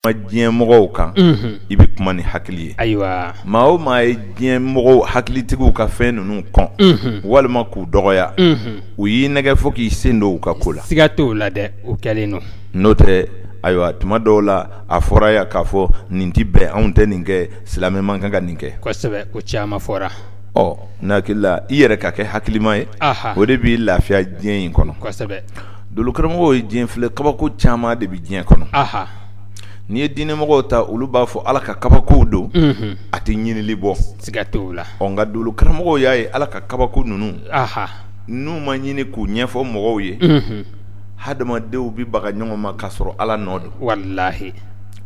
ma diɲɛ mɔgɔw kan i bɛ kuma ni hakili ye ayiwa maa o maa ye diɲɛ mɔgɔw hakilitigiw ka fɛn ninnu kɔn walima k'u dɔgɔya u y'i nɛgɛ fo k'i sen don u ka ko la siga t'o la dɛ o kɛlen don n'o tɛ ayiwa tuma dɔw la a fɔra yan k'a fɔ nin tɛ bɛn anw tɛ nin kɛ silamɛ man kan ka nin kɛ kosɛbɛ o caman fɔra ɔ n hakili la i yɛrɛ ka kɛ hakilima ye o de b'i lafiya diɲɛ in kɔnɔ kosɛbɛ Dolokaramɔgɔw ye diɲɛ filɛ kabako caman de bɛ diɲɛ kɔnɔ n'i ye diinɛmɔgɔw ta olu b'a fɔ ala ka kabakow don a tɛ ɲinili bɔ siga t'o la ɔ nka dolokaramɔgɔw y'a ye ala ka kabako ninnu n'u ma ɲini k'u ɲɛfɔ mɔgɔw ye hadamadenw bɛ baga ɲɔgɔn ma k'a sɔrɔ ala nɔ don walayi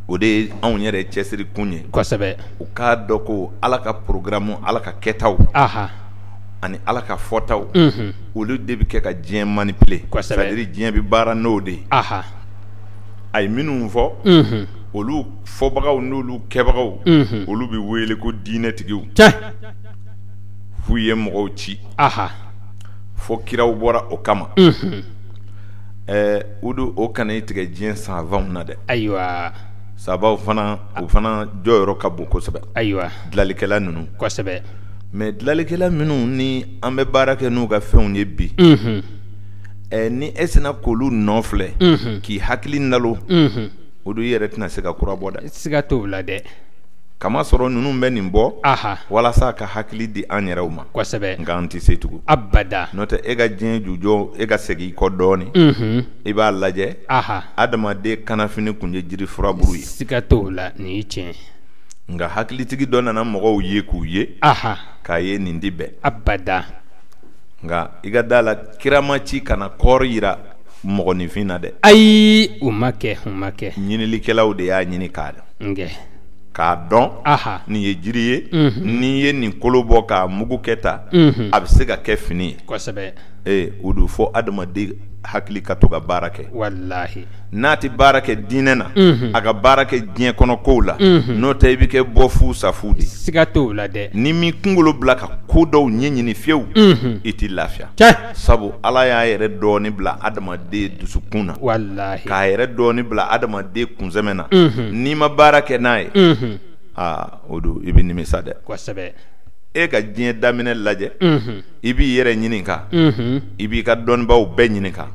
o de ye anw yɛrɛ cɛsiri kun ye u k'a dɔn ko ala ka porogaramu ala ka kɛtaw ani ala ka fɔtaw olu de bɛ kɛ ka diɲɛ manipuler diɲɛ bɛ baara n'o de ye a ye minnu fɔ olu fɔbagaw n'olu kɛbagaw olu bɛ wele ko diinɛtigiw f'u ye mɔgɔw ci fo kiraw bɔra o kama ɛɛ o don o kana i tigɛ diɲɛ savanw na dɛ ayiwa savanw fana u fana jɔyɔrɔ ka bon kosɛbɛ ayiwa dilalikɛla ninnu mɛ dilalikɛla minnu ni an bɛ baara kɛ n'u ka fɛnw ye bi ɛ ni e sinna k'olu nɔ filɛ k'i hakili nalon o don i yɛrɛ tɛna se ka kura bɔ dɛ siga t'o la dɛ k'a masɔrɔ ninnu bɛ nin bɔ walasa ka hakili di an yɛrɛw ma kosɛbɛ nka an tɛ se tugun abada n'o tɛ e ka diɲɛ jujɔ e ka segin i kɔ dɔɔnin i b'a lajɛ adamaden kannafini tun ye jiri furabulu ye siga t'o la nin ye tiɲɛ nka hakilitigi dɔ nana mɔgɔw ye k'u ye k'a ye nin tɛ bɛn abada nka i ka da la kira ma ci ka na kɔɔri jira mɔgɔninfin na dɛ ayi o ma kɛ o ma kɛ ɲinilikɛlaw de y'a ɲini k'a dɔn k'a dɔn nin ye jiri ye mhm. n'i ye nin kolo bɔ k'a mugu kɛ tan mhm. a bɛ se ka kɛ fini ye kosɛbɛ ee o don fo adamaden hakili ka to ka baara kɛ walahi n'a tɛ baara kɛ diinɛ na a ka baara kɛ diɲɛ kɔnɔkow la n'o tɛ i bɛ kɛ bɔ fu sa fu de siga t'o la dɛ n'i m'i kungolo bila ka ko dɔw ɲɛɲini fiyewu i tɛ lafiya sabu ala y'a yɛrɛ dɔɔnin bila adamaden dusukun na k'a yɛrɛ dɔɔnin bila adamaden kunsɛmɛ na n'i ma baara kɛ n'a ye aa o don i bɛ nimisa dɛ e ka diɲɛ daminɛ lajɛ i b'i yɛrɛ ɲininka i b'i ka dɔnnibaw bɛɛ ɲininka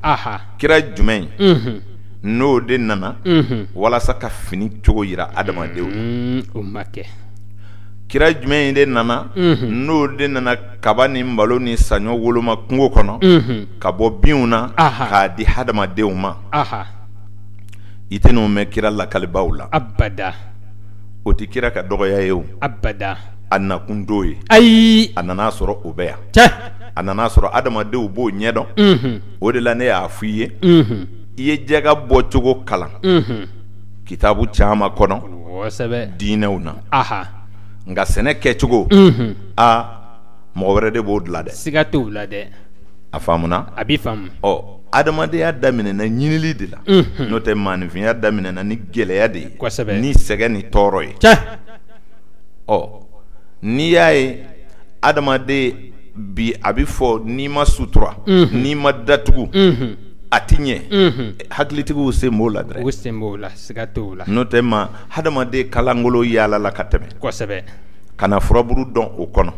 kira jumɛn in n'o de nana walasa ka fini cogo yira adamadenw mm, o ma kɛ kira jumɛn in de nana n'o de nana kaba ni malo ni saɲɔ woloma kungo kɔnɔ ka bɔ binw na k'a di hadamadenw ma i tɛn'o mɛn kira lakalibaaw la abada o tɛ kira ka dɔgɔya ye o abada a nakun t'o ye ayi a nan'a sɔrɔ o bɛ yan a nan'a sɔrɔ adamadenw b'o ɲɛdɔn o de la ne y'a f'i ye i ye jaka bɔcogo kalan kitabu caman kɔnɔ diinɛw na nka sɛnɛ kɛcogo aa mɔgɔ wɛrɛ de b'o dilan dɛ siga t'o la dɛ a faamuna a bɛ faamu ɔ adamadenya daminɛna ɲinili de la n'o tɛ maanifinya daminɛna ni gɛlɛya de ye kosɛbɛ ni sɛgɛn ni tɔɔrɔ ye ɔ n'i y'a ye adamaden bi a bɛ fɔ n'i ma sutura n'i ma datugu a tɛ ɲɛ hakilitigiw sen b'o la dɛ u sen b'o la siga t'o la n'o tɛ ma hadamaden ka lankolon yaalala ka tɛmɛ kosɛbɛ ka na furaburu dɔn o kɔnɔ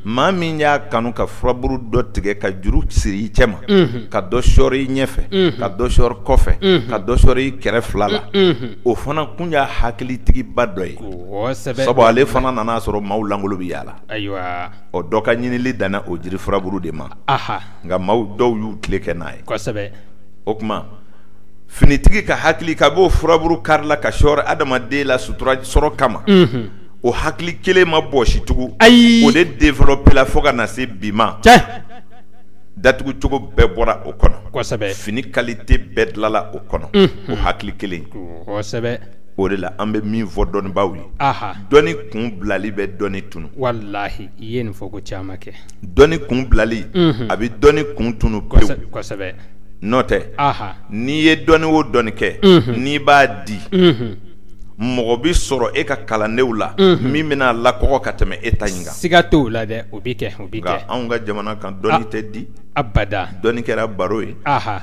maa min y'a kanu ka furaburu dɔ tigɛ ka juru siri i cɛ ma ka dɔ sɔɔri i ɲɛfɛ ka dɔ sɔɔri kɔfɛ ka dɔ sɔɔri i kɛrɛ fila la o fana kun y'a hakilitigiba dɔ ye sabu ale fana nan'a sɔrɔ maaw lankolon bɛ yaala la ayiwa ɔ dɔ ka ɲinili danna o jiri furaburu de ma nka maaw dɔw y'u tile kɛ n'a ye o tuma finitigi ka hakili ka b'o furaburu kari la ka sɔɔri adamaden la sutura sɔrɔ kama mhm. o hakili kelen ma bɔsi tugun o de developela fo ka na se bi ma datugu cogo bɛɛ bɔra o kɔnɔ fini kalite bɛɛ dilala o kɔnɔ mhm. o hakili kelen o de la an bɛ min fɔ dɔnnibaaw ye dɔnni kun bilali bɛ dɔnni tunun walahi i ye nin fɔ ko caman kɛ dɔnni kun bilali a bɛ dɔnni kun tunun pewu kosɛbɛ n'o tɛ n'i ye dɔnni o dɔnni kɛ n'i b'a di mɔgɔ bɛ sɔrɔ e ka kalandenw la min bɛn'a lakɔgɔ ka tɛmɛ e ta in kan siga t'o la dɛ o bɛ kɛ o bɛ kɛ anw ka jamana kan dɔnni tɛ di abada dɔnni kɛra baro ye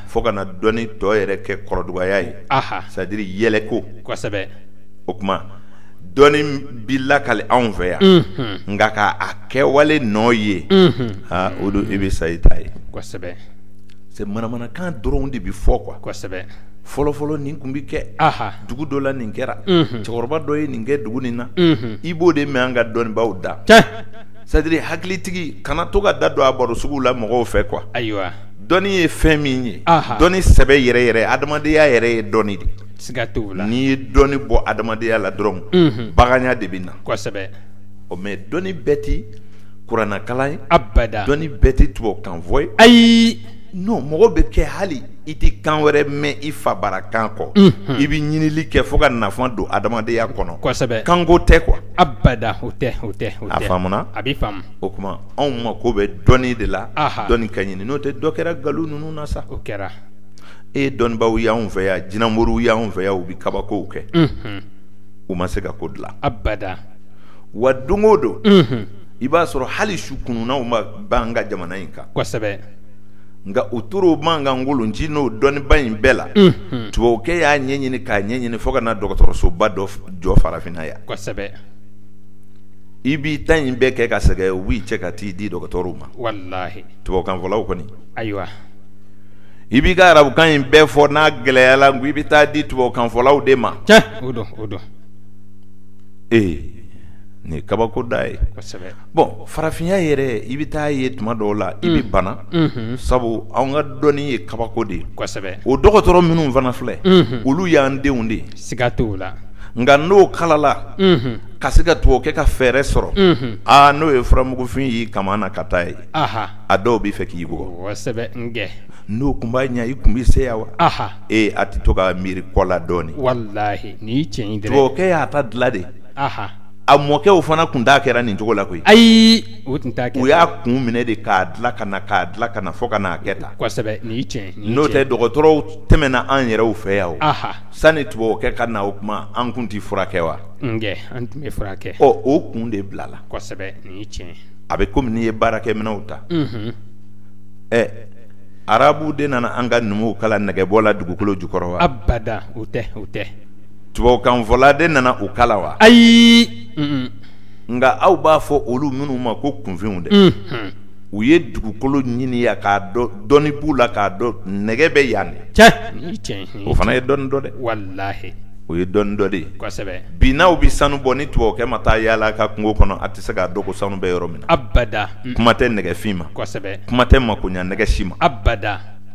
fo ka na dɔnni tɔ yɛrɛ kɛ kɔrɔdugaya ye aha c'est à dire yɛlɛko kosɛbɛ o kuma dɔnni bi lakali anw fɛ yan mhm. nka ka a kɛwale nɔ ye mhm. aa o don i bɛ sa i ta ye kosɛbɛ c'est manamanakan dɔrɔn de bɛ fɔ quoi kosɛbɛ fɔlɔfɔlɔ nin kun bɛ kɛ dugu dɔ la nin kɛra mhm. cɛkɔrɔba dɔ ye nin kɛ dugu nin na i b'o de mɛn an ka dɔnnibaaw da c'est à dire hakilitigi kana to ka da don a baro suguw la mɔgɔw fɛ quoi ayiwa dɔnni ye fɛn min ye dɔnni sɛbɛ yɛrɛ yɛrɛ adamadenya yɛrɛ ye dɔnni de siga t'o la n'i ye dɔnni bɔ adamadenya la dɔrɔn baganya de bɛ na kosɛbɛ o mɛ dɔnni bɛɛ tɛ kuranakalan ye abada dɔnni bɛɛ tɛ tubabukanfɔ ye ayi nɔn mɔgɔ bɛ kɛ hali i tɛ kan wɛrɛ mɛn i fa bara kan kɔ i bɛ ɲinili kɛ fo ka nafa don adamadenya kɔnɔ kanko tɛ kuwa abada o tɛ o tɛ a a bɛ o kuma anw mako bɛ dɔnni de la dɔnni ka ɲini n'o tɛ dɔ kɛra nkalon ninnu na sa o kɛra e dɔnnibaw y'anw fɛ yan jinɛmoriw y'anw fɛ yan u bɛ kabakow kɛ u ma se ka ko dilan abada wa don o don i b'a sɔrɔ hali su kununnaw ma ban an ka jamana in kan kosɛbɛ nka u tɔɔrɔ b'an kan ngolonci n'o dɔnniba in bɛɛ la tubabukɛ y'a ɲɛɲini k'a ɲɛɲini fo ka na dɔgɔtɔrɔsoba dɔ jɔ farafinna yan kosɛbɛ i b'i ta in bɛɛ kɛ ka sɛgɛn u b'i cɛ ka t'i di dɔgɔtɔrɔw ma walahi tubabukanfɔlaw kɔni ayiwa i b'i ka arabukan in bɛɛ fɔ n'a gɛlɛyala n ko i bɛ taa di tubabukanfɔlaw de ma tiɲɛ o don o don ee nin ye kabako da ye kosɛbɛ bɔn farafinya yɛrɛ i bɛ taa ye tuma dɔw la i bɛ bana unhun sabu anw ka dɔnni ye kabako de ye kosɛbɛ o dɔgɔtɔrɔ minnu fana filɛ unhun olu y'an denw de ye Siga t'o la nka n'o kalala ka se ka tubabukɛ ka fɛɛrɛ sɔrɔ aa n'o ye furamugufin y'i kaman na ka taa ye a dɔw b'i fɛ k'i bugɔ n'o kun b'a ɲɛ i kun bɛ se yan wa ee a tɛ to ka miiri kɔ la dɔɔnin tubabukɛ y'a ta dilan de a mɔkɛw fana kun t'a kɛra nin cogo la koyi ayi o tun u y'a kun minɛ de k'a dilan ka na k'a dilan ka na fo ka n'a kɛ tan n'o tɛ dɔgɔtɔrɔw tɛmɛna an yɛrɛw fɛ yan Sani tubabukɛ ka na o kuma an kun tɛ furakɛ wa an tun bɛ furakɛ ɔ o kun de bilala tiɲɛ a bɛ kɔmi n'i ye baarakɛminɛnw ta ɛ arabu de nana an ka numuw kalan nɛgɛbɔ la dugukolo jukɔrɔ wa abada o tɛ o tɛ tubabukanfɔla de nana u kalan wa ayi nka aw b'a fɔ olu minnu ma ko kunfinw dɛ u ye dugukolo ɲini yan k'a dɔn dɔnni b'u la k'a dɔn nɛgɛ bɛ yan o fana ye dɔnni dɔ dɛ o ye dɔnni dɔ de bi n'aw bɛ sanu bɔ ni tubabukɛ ma taa yaala a ka kungo kɔnɔ a tɛ se k'a dɔn ko sanu bɛ yɔrɔ min na kuma tɛ nɛgɛfin ma kuma tɛ makoɲa nɛgɛ si ma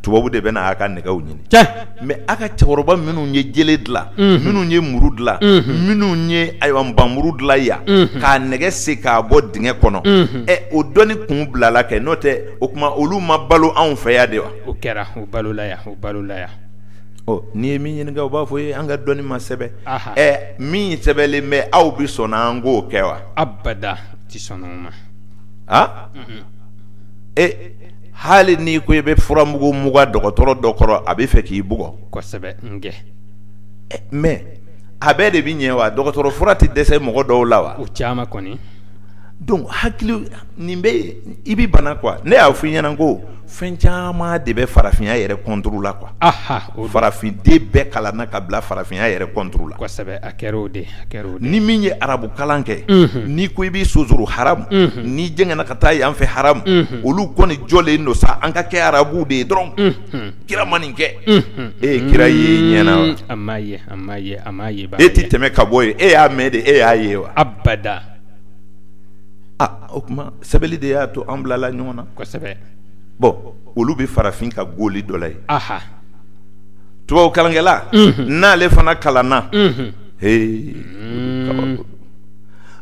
tubabu de bɛ na a ka nɛgɛw ɲini cɛ mɛ a ka cɛkɔrɔba minnu ye jele dilan minnu ye muru dilan minnu ye ayiwa npanmuru dilan yan k'a nɛgɛ sen k'a bɔ dingɛ kɔnɔ ɛ o dɔnni kun bilala kɛ n'o tɛ o tuma olu ma balo anw fɛ yan de wa o kɛra o balola yan o balola yan ɔ n'i ye min ɲininka u b'a fɔ i ye an ka dɔnni ma sɛbɛn ɛ min sɛbɛnlen bɛ aw bɛ sɔn an k'o kɛ wa abada tɛ sɔn o ma a e hali n'i ko i bɛ furamugu mugan dɔgɔtɔrɔ dɔ kɔrɔ a bɛ fɛ k'i bugɔ kosɛbɛ nkɛ eh, mais a bɛɛ de bɛ ɲɛ wa dɔgɔtɔrɔ fura tɛ dɛsɛ mɔgɔ dɔw la wa o caman kɔni donc hakili nin bɛ i bɛ bana quoi ne y'a fɔ i ɲɛna ko fɛn caman de bɛ farafinya yɛrɛ contre la quoi farafin den bɛɛ kalanna ka bila farafinya yɛrɛ contre la kosɛbɛ a kɛra o de ni min ye arabu kalan kɛ n'i ko i b'i sonsoro haramu n'i jɛngɛna ka taa yan fɛ haramu olu kɔni jɔlen don sa an ka kɛ arabu de ye dɔrɔn kira ma nin kɛ e ye kira ye i ɲɛna e tɛ tɛmɛ ka bɔ yen e y'a mɛn de e y'a ye wa abada aa o kuma sɛbɛnni de y'a to an bilala ɲɔgɔn na bon olu bɛ farafin ka goli dɔ la ye tubabukalankɛla n'ale fana kalanna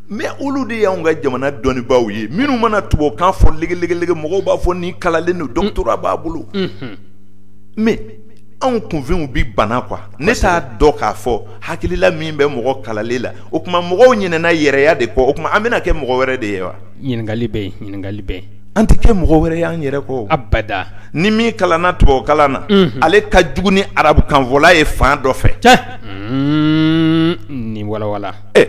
mais olu de y'anw ka jamana dɔnnibaw ye minnu mana tubabukan fɔ legelege mɔgɔw b'a fɔ nin kalalen don doctorat b'a bolo mais anw kunfinw bɛ bana quoi ne t'a dɔn k'a fɔ hakilila min bɛ mɔgɔ kalalen la o kuma mɔgɔw ɲinɛna yɛrɛya de kɔ o kuma an bɛna kɛ mɔgɔ wɛrɛ de ye wa ɲininkali bɛ An tɛ kɛ mɔgɔ wɛrɛ y'an yɛrɛ kɔ abada ni min kalanna tubabukalan na unhun ale ka jugu ni arabukanfɔla ye fan dɔ fɛ tiɲɛ unnnn ni walawala e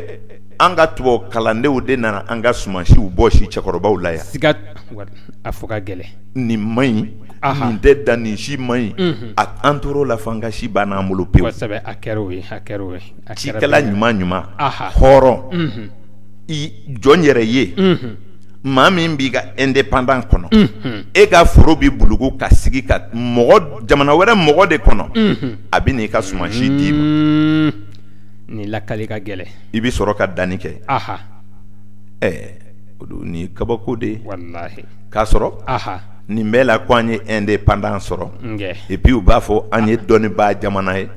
an ka tubabu kalandenw de nana an ka sumansiw bɔsi cɛkɔrɔbaw la yan siga t'o la a fɔ ka gɛlɛn nin man ɲi anhan nin tɛ dan nin si man ɲi unhun a an tor'o la fo an ka si bann'an bolo pewu kosɛbɛ a kɛr'o ye a kɛr'o ye a kɛra ten cikɛla ɲuman-ɲuman aha hɔrɔn unhun i jɔn yɛrɛ ye unhun maa min b'i ka indépendant kɔnɔ e ka foro bɛ bulugu ka sigi ka mɔgɔ jamana wɛrɛ mɔgɔ de kɔnɔ a bɛ n'i ka sumansi d'i ma nin lakali ka gɛlɛn i bɛ sɔrɔ ka danni kɛ ɛɛ o don ni kabako de k'a sɔrɔ nin bɛɛ la ko an ye indépendant sɔrɔ et puis u b'a fɔ an ye dɔnnibaa jamana ye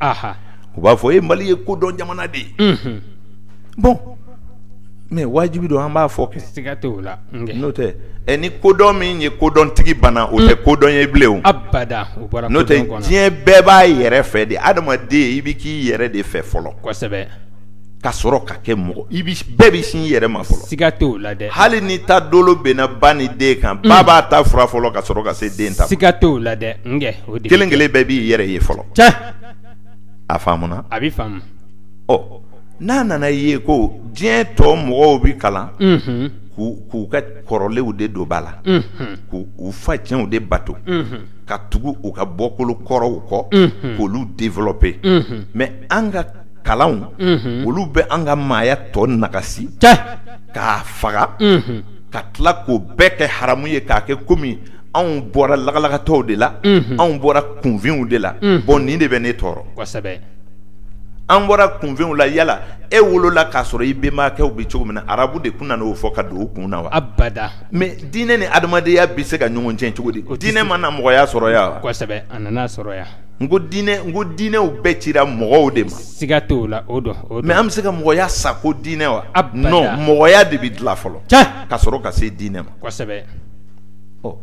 u b'a fɔ e mali ye kodɔn jamana de ye bon mais wajibi don an b'a fɔ kɛ siga tɛ o la n'o tɛ ɛ ni kodɔn min ye kodɔntigi bana o tɛ kodɔn ye bilen abada n'o tɛ diɲɛ bɛɛ b'a yɛrɛ fɛ de adamaden i bɛ k'i yɛrɛ de fɛ fɔlɔ kosɛbɛ ka sɔrɔ ka kɛ mɔgɔ bɛɛ bɛ sin i yɛrɛ ma fɔlɔ siga tɛ o la dɛ hali ni ta dolo binna ba ni den kan ba b'a ta furan fɔlɔ ka sɔrɔ ka se den ta ma siga tɛ o la dɛ kelen kelen bɛɛ b'i yɛrɛ ye fɔlɔ a faamuna a bɛ faamu ɔ n'a nana ye ko diɲɛ tɔ mɔgɔw bɛ kalan k'u ka kɔrɔlenw de don ba la k'u fa cɛnw de bato ka tugu u ka bɔkolo kɔrɔw kɔ k'olu devɔlɔpe mɛ an ka kalanw olu bɛ an ka maaya tɔ nagasi k'a faga ka tila k'o bɛɛ kɛ haramu ye k'a kɛ komi anw bɔra lagalagatɔw de la anw bɔra kunfinw de la bɔn nin de bɛ ne tɔɔrɔ an bɔra kunfɛnw la yala e wolola k'a sɔrɔ i bɛnbakɛw bɛ cogo min na arabu de tun nana o fɔ ka don u kun na wa abada mɛ diinɛ ni adamadenya bɛ se ka ɲɔgɔn tiɲɛ cogo di ko diinɛ ma na mɔgɔya sɔrɔ yan wa kosɛbɛ a nan'a sɔrɔ yan n ko diinɛ ko diinɛw bɛɛ cira mɔgɔw de ma siga t'o la o don mɛ an bɛ se ka mɔgɔya sa ko diinɛ wa abada nɔn mɔgɔya de bɛ dilan fɔlɔ ka sɔrɔ ka se diinɛ ma kosɛbɛ ɔ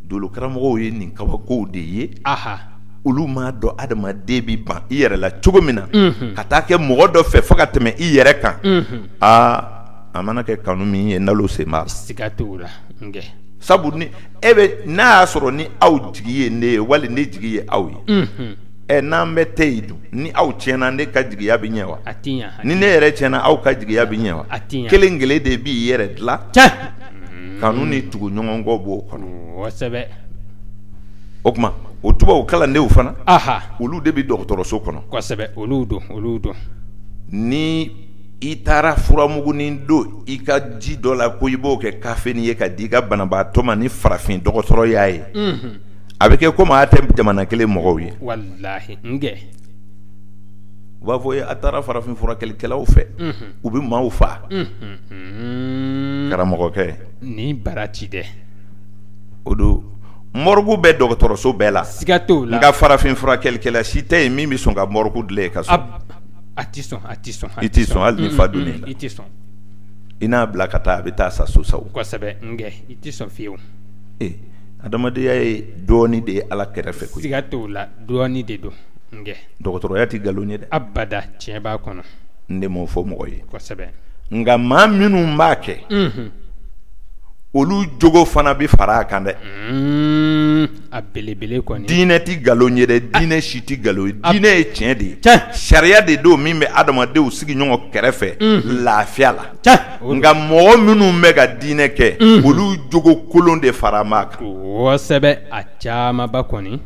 dolo karamɔgɔw ye nin kabakow de ye aha olu m'a dɔn adamaden bɛ ban i yɛrɛ la cogo min na ka taa kɛ mɔgɔ dɔ fɛ fo ka tɛmɛ i yɛrɛ kan aa a mana kɛ kanu min ye nalo sen b'a la siga t'o la sabu e n'a y'a sɔrɔ ni aw jigi ye ne ye wali ne jigi ye aw ye ɛ n'an bɛɛ tɛ yen dun ni aw tiɲɛna ne ka jigiya bɛ ɲɛ wa ni ne yɛrɛ tiɲɛna aw ka jigiya bɛ ɲɛ wa kelen kelen de b'i yɛrɛ dilan kanu ni tuguɲɔgɔnkɔ b'o kɔnɔ o tuma o tubabu kalandenw fana olu de bɛ dɔgɔtɔrɔso kɔnɔ kosɛbɛ olu don olu don ni i taara furamugunin don i ka ji dɔ la ko i b'o kɛ kafenin ye ka di i ka banabaatɔ ma ni farafin dɔgɔtɔrɔ y'a ye a bɛ kɛ komi a tɛ jamana kelen mɔgɔw ye u b'a fɔ a taara farafin furakɛlikɛlaw fɛ u bɛ maaw faa karamɔgɔkɛ ni bara ci dɛ o don mɔrigu bɛ dɔgɔtɔrɔso bɛɛ la siga t'o la nka farafin furakɛlikɛla si tɛ yen min bɛ sɔn ka mɔrigu dilan i ka so a tɛ sɔn a tɛ sɔn i tɛ sɔn hali ni fa donn'i la i tɛ sɔn i n'a bila ka taa a bɛ taa sa so sa kosɛbɛ i tɛ sɔn fiyewu adamadenya ye dɔɔnin de ye ala kɛrɛfɛ koyi siga t'o la dɔɔnin de don dɔgɔtɔrɔya tɛ nkalon ye dɛ abada tiɲɛ b'a kɔnɔ n de m'o fɔ mɔgɔ ye kosɛbɛ nka maa minnu b'a kɛ olu jogo fana bɛ fara a kan dɛ a belebele dinɛ tɛ nkalon ye dɛ dinɛ si tɛ nkalon ye dinɛ ye tiɲɛ de ye sariya de don min bɛ adamadenw sigi ɲɔgɔn kɛrɛfɛ lafiya la nka mɔgɔ minnu bɛ ka dinɛ kɛ olu jogo kolon de fara a kan a caman kɔni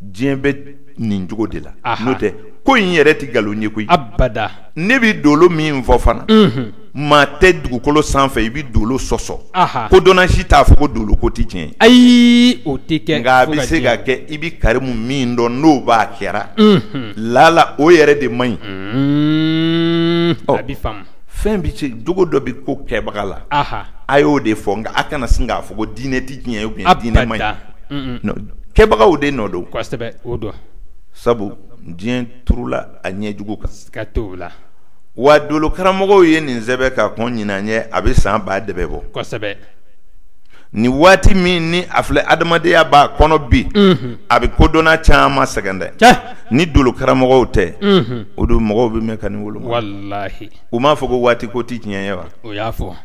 diɲɛ bɛ nin cogo de la n'o tɛ ko in yɛrɛ tɛ nkalon ye koyi abada ne bɛ dolo min fɔ fana maa tɛ dugukolo sanfɛ i bɛ dolo sɔsɔ kodɔnna si t'a fɔ ko dolo ko tɛ tiɲɛ ayi o tɛ kɛ nka a bɛ se ka kɛ i bɛ karimu min dɔn n'o b'a kɛra lala o yɛrɛ de man ɲi a bɛ faamu fɛn bɛ se jogo dɔ bɛ ko kɛbaga la a y'o de fɔ nka a kana sin k'a fɔ ko diinɛ tɛ tiɲɛ ou bien diinɛ man ɲi kɛbagaw de nɔ don sabu diɲɛ turula a ɲɛ jugu kan siga t'o la wa dolo karamɔgɔw ye nin sɛbɛn ka kɔn ɲinan ɲɛ a bɛ san ba de bɔ kosɛbɛ nin waati min ni a filɛ adamadenya b'a kɔnɔ bi a bɛ kodɔnna caman sɛgɛn dɛ ni dolo karamɔgɔw tɛ o don mɔgɔw bɛ mɛn ka nin wolo u m'a fɔ ko waati ko tɛ tiɲɛ ye wa o y'a fɔ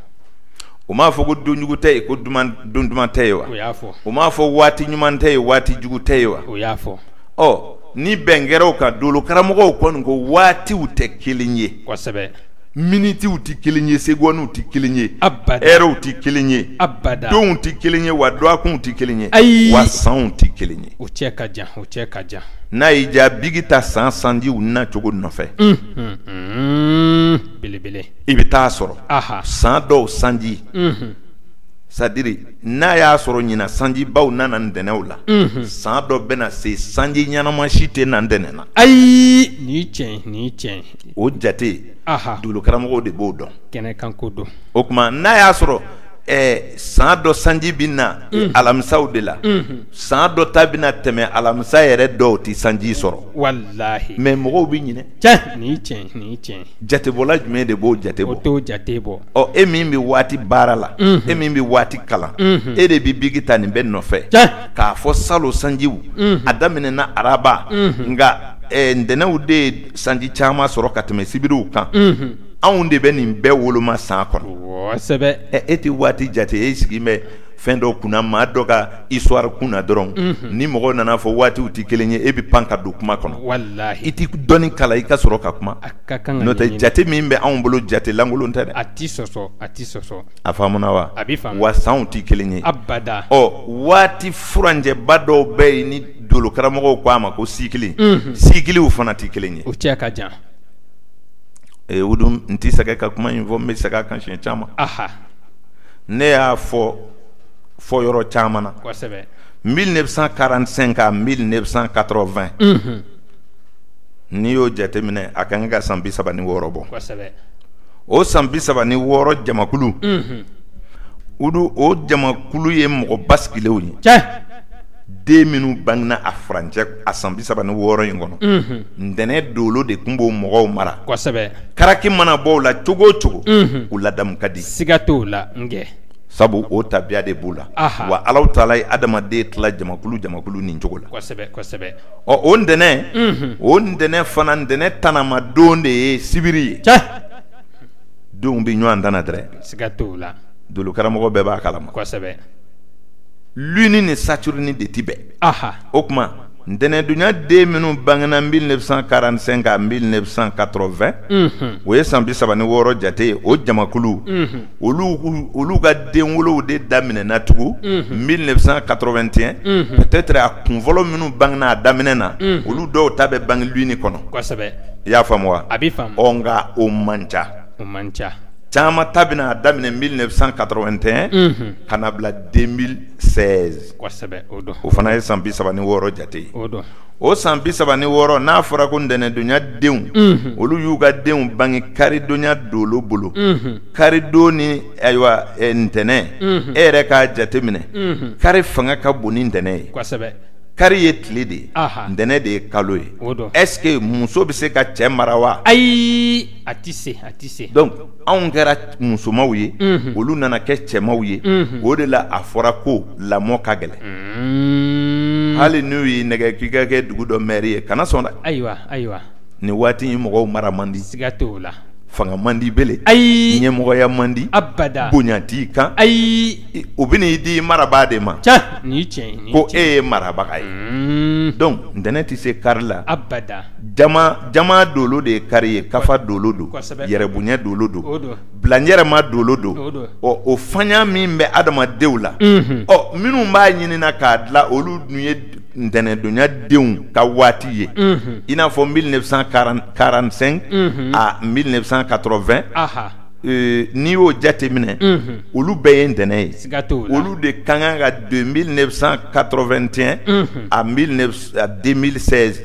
u m'a fɔ ko don jugu tɛ yen ko don duman tɛ yen wa o y'a fɔ u m'a fɔ waati ɲuman tɛ yen waati jugu tɛ yen wa o y'a fɔ ɔ ni bɛn kɛra o kan dolo karamɔgɔw kɔni ko waatiw tɛ kelen ye minitiw tɛ kelen ye segɔniw tɛ kelen ye ɛrɛw tɛ kelen ye donw tɛ kelen ye wa dɔgɔkunw tɛ kelen ye ayi wa sanw tɛ kelen ye o cɛ ka jan o cɛ ka jan n'a y'i diya biki ta san sanjiw na cogo nɔfɛ belebele i bɛ taa sɔrɔ san dɔw sanji c'est-à-dire n'a y'a sɔrɔ ɲinan sanjibaw nana ntɛnɛnw la san dɔ bɛna se sanji ɲɛnama si tɛ na ntɛnɛn na ayi ni cɛ ni cɛ o jate dolo karamɔgɔw de b'o dɔn kɛnɛ kan ko don o tuma n'a y'a sɔrɔ san dɔ sanji bɛ na alamisaw de la san dɔ ta bɛna tɛmɛ alamisa yɛrɛ dɔw tɛ sanji sɔrɔ walayi mais mɔgɔw bɛ ɲinɛ jatebɔla jumɛn de b'o jate jate bɔ e min bɛ waati baara la e min bɛ waati kalan e de bɛ biki ta nin bɛɛ nɔfɛ k'a fɔ salon sanjiw a daminɛna araba nka ntɛnɛnw de ye sanji caman sɔrɔ ka tɛmɛ sibiriw kan anw de bɛ nin bɛɛ woloma san kɔnɔ e tɛ waati jate e sigi bɛ fɛn dɔ kunna maa dɔ ka histoire kunna dɔrɔn ni mɔgɔ nana fɔ waatiw tɛ kelen ye e bɛ pan ka don kuma kɔnɔ walayi i tɛ dɔnni kalan i ka sɔrɔ ka kuma n'o tɛ jate min bɛ anw bolo jate lankolon tɛ dɛ a tɛ sɔsɔ a tɛ sɔsɔ a faamuna wa a bɛ faamu wa sanw tɛ kelen ye abada ɔ waati furancɛba dɔw bɛ yen ni dolo karamɔgɔw ko a ma ko sikili sikiliw fana tɛ kelen ye o cɛ ka jan o don n tɛ sɛgɛn ka kuma in fɔ n bɛ segin a kan siɲɛ caman ne y'a fɔ fɔ yɔrɔ caman na kosɛbɛ 1945 à 1980 unhun n'i y'o jateminɛ a ka kan ka san bi saba ni wɔɔrɔ bɔ kosɛbɛ o san bi saba ni wɔɔrɔ jamakulu unhun o don o jamakulu ye mɔgɔ basigilenw ye cɛ den minnu bangena a furancɛ a san bi saba ni wɔɔrɔ in kɔnɔ unhun ntɛnɛn dolo de tun b'o mɔgɔw mara kosɛbɛ karaki mana bɔ o la cogo o cogo unhun u ladamu ka di siga t'o la n kɛ sabu o tabiya de b'u la wa ala taala ye adamaden tila jamakulu jamakulu nin cogo la ɔ o ntɛnɛn o ntɛnɛn fana ntɛnɛn tanama don de ye sibiri ye donw bɛ ɲɔgɔn tana dɛrɛ dolo karamɔgɔ bɛɛ b'a kalama lune ni saturne de tɛ bɛn o tuma ntɛnɛndonya den minnu bangena 1945 à 1980 o ye san bi saba ni wɔɔrɔ jate ye o jamakulu olu ka denwolow de daminɛna tugun 1981 peut être a kunfɔlɔ minnu bangena a daminɛ na olu dɔw ta bɛ bange lune kɔnɔ i y'a faamu wa nka o man ca o man ca caman ta bɛna a daminɛ 1981 ka na bila 2016 o fana ye san bi saba ni wɔɔrɔ jate o san bi saba ni wɔɔrɔ n'a fɔra ko ntɛnɛndonya denw mhm. olu y'u ka denw bange karidonya dolo bolo mhm. karidon ni ayiwa e, ntɛnɛn mhm. e yɛrɛ k'a jate minɛ kari fanga ka bon ni ntɛnɛn ye kari ye tile de ye ntɛnɛn de ye kalo ye est ce que muso bɛ se ka cɛ mara wa ayi a tɛ se a tɛ se donc anw kɛra musomanw ye olu nana kɛ cɛmanw ye o de la a fɔra ko lamɔ ka gɛlɛn hali n'u y'i nɛgɛ k'i ka kɛ dugu dɔ maire ye kana sɔn dɛ ayiwa ayiwa nin waati in mɔgɔw mara man di siga t'o la fanga man di bele ayi ɲɛmɔgɔya man di abada bonya t'i kan ayi o bɛn'i di marabaa de ma cɛ ni tiɲɛ ko e ye marabaga ye donc ntɛnɛn tɛ se kari la abada jama jama dolo de ye kari ye kafa dolo don yɛrɛbonya dolo don bilayɛrɛma dolo don ɔ o fanya min bɛ adamadenw la ɔ minnu b'a ɲinina k'a dilan olu dun ye ntɛnɛndonya denw ka waati ye i n'a fɔ 1945 à 1980 n'i y'o jate minɛ olu bɛɛ ye ntɛnɛn ye olu de ka kan ka de 1981 à 2016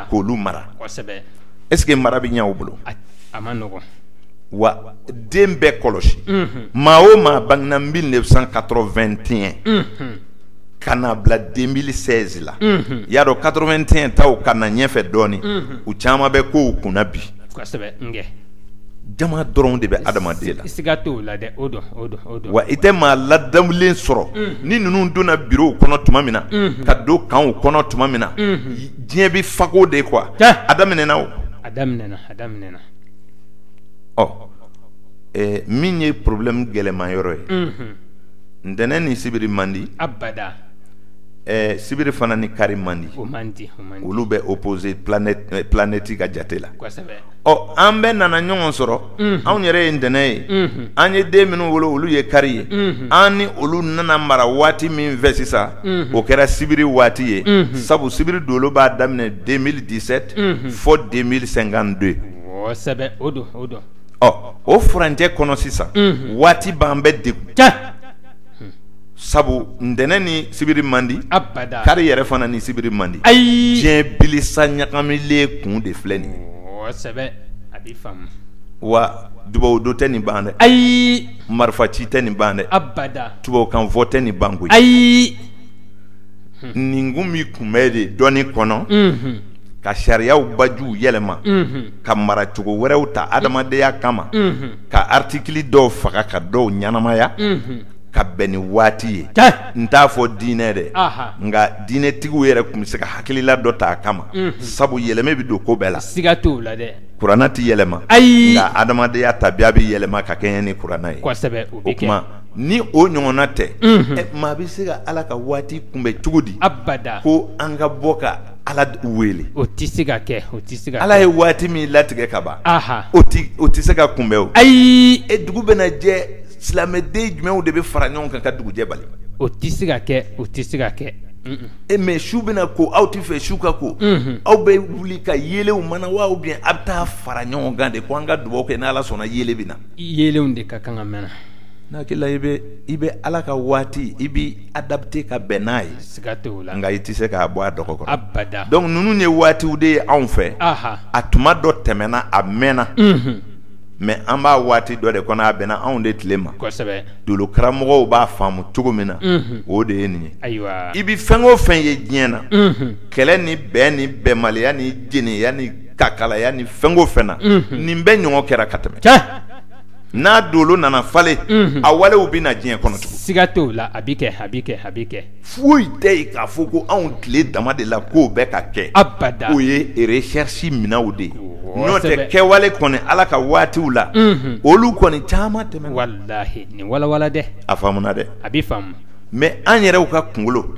k'olu mara est ce que mara bɛ ɲɛ u bolo wa den bɛɛ kɔlɔsi maa o maa bangena 1981 ka na bila 2016 la y'a dɔn 81 taw ka na ɲɛfɛ dɔɔnin u caman bɛ kow kunna bi jama dɔrɔn de bɛ adamaden la siiga t'o la dɛ o wa i tɛ maa ladamulen sɔrɔ ni ninnu donna biro kɔnɔ tuma min na ka don kanw kɔnɔ tuma min na diɲɛ bɛ fako de kuwa a daminɛna o a daminɛna a daminɛna ɔ min ye porobilɛmu gɛlɛman yɔrɔ ye ntɛnɛn ni sibiri man di abada sibiri fana ni kari man di man di olu bɛ opoze planɛti ka jate la ɔ an bɛɛ nana ɲɔgɔn sɔrɔ anw yɛrɛ ye ntɛnɛn ye an ye den minnu wolo olu ye kari ye an ni olu nana mara waati min fɛ sisan o kɛra sibiri waati ye sabu sibiri dolo b'a daminɛ de mili disɛti fɔ de mili sɛnkanti de ɔ o furancɛ kɔnɔ sisan waati b'an bɛɛ degun sabu ntɛnɛn ni sibiri man di abada kari yɛrɛ fana ni sibiri man di ayi diɲɛ bilisa ɲagamilen kun de filɛ nin ye sɛbɛ a b'i faamu wa dubawu don tɛ nin ban dɛ ayi marifa ci tɛ nin ban dɛ abada tubabukan fɔ tɛ nin ban koyi ayi nin kun bɛ kunbɛn de dɔnni kɔnɔ ka sariyaw bajuw yɛlɛma ka mara cogo wɛrɛw ta adamadenya kama ka aritikili dɔw faga ka dɔw ɲɛnamaya ka bɛn ni waati ye n t'a fɔ diinɛ dɛ nka diinɛtigiw yɛrɛ tun bɛ se ka hakilila dɔ ta a kama sabu yɛlɛma bɛ don ko bɛɛ la siiga t'o la dɛ kuranɛ tɛ yɛlɛma ayi nka adamadenya tabiya bɛ yɛlɛma ka kɛɲɛ ni kuranɛ ye o kuma ni o ɲɔgɔnna tɛ maa bɛ se ka ala ka waati kunbɛn cogo di ko an ka bɔ ka Ala wele o tɛ se ka kɛ o tɛ se ala ye waati min latigɛ ka ban o tɛ se ka kunbɛn o ayi e dugu bɛna jɛ silamɛden jumɛnw de bɛ fara ɲɔgɔn kan ka dugujɛ bali o tɛ se ka kɛ o tɛ se ka kɛ e mɛ su bɛna ko aw tɛ fɛ su ka ko aw bɛ wuli ka yelenw mana wa u biyɛn aw bɛ taa fara ɲɔgɔn kan de ko an ka dugawu kɛ n' ala sɔnna yelen bɛ na yelenw de ka kan ka mɛnɛ n hakili la i bɛ ala ka waati i adapte ka bɛn n'a ye nka i tɛ se k'a bɔ a dɔgɔ kɔrɔ dɔnku ninnu ye waatiw de ye anw fɛ a tuma dɔ tɛmɛna a mɛnna mɛ an b'a waati dɔ de kɔnɔ a bɛnna anw de tile ma dolo karamɔgɔw b'a faamu cogo min na o de ye nin ye i bɛ fɛn o fɛn ye diɲɛ na kɛlɛ ni bɛn ni bɛnbaliya ni jɛnɛya ni kakalaya ni fɛn o fɛn na nin bɛɛ ɲɔgɔn kɛra ka tɛmɛ n'a dolo nana falen a walew bɛ na diɲɛ kɔnɔ tugun siga t'o la a bɛ kɛ a bɛ kɛ a bɛ kɛ foyi tɛ yen k'a fɔ ko anw tile dama de la k'o bɛ ka kɛ abada o ye resɛrisi minɛnw de ye n'o tɛ kɛwale kɔni ala ka waatiw la olu kɔni caman tɛmɛ walayi nin walawala dɛ a faamuna dɛ a bɛ faamu mɛ an yɛrɛw ka kunkolo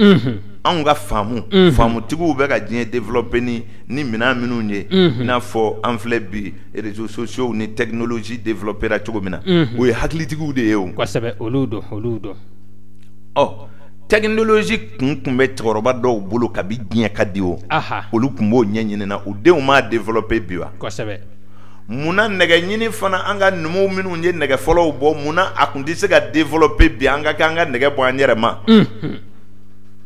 anw ka faamu faamutigiw bɛ ka diɲɛ develɔpe ni ni minɛn minnu ye n'a fɔ an filɛ bi Réseaux sociaux ni technologie développera cogo min na o ye hakilitigiw de ye o olu don olu don ɔ technologie kun tun bɛ cɛkɔrɔba dɔw bolo kabi diɲɛ ka di o olu tun b'o ɲɛɲini na u denw m'a développer bi wa munna nɛgɛ ɲini fana an ka numuw minnu ye nɛgɛ fɔlɔw bɔ munna a tun tɛ se ka développer bi an ka kɛ an ka nɛgɛ bɔ an yɛrɛ ma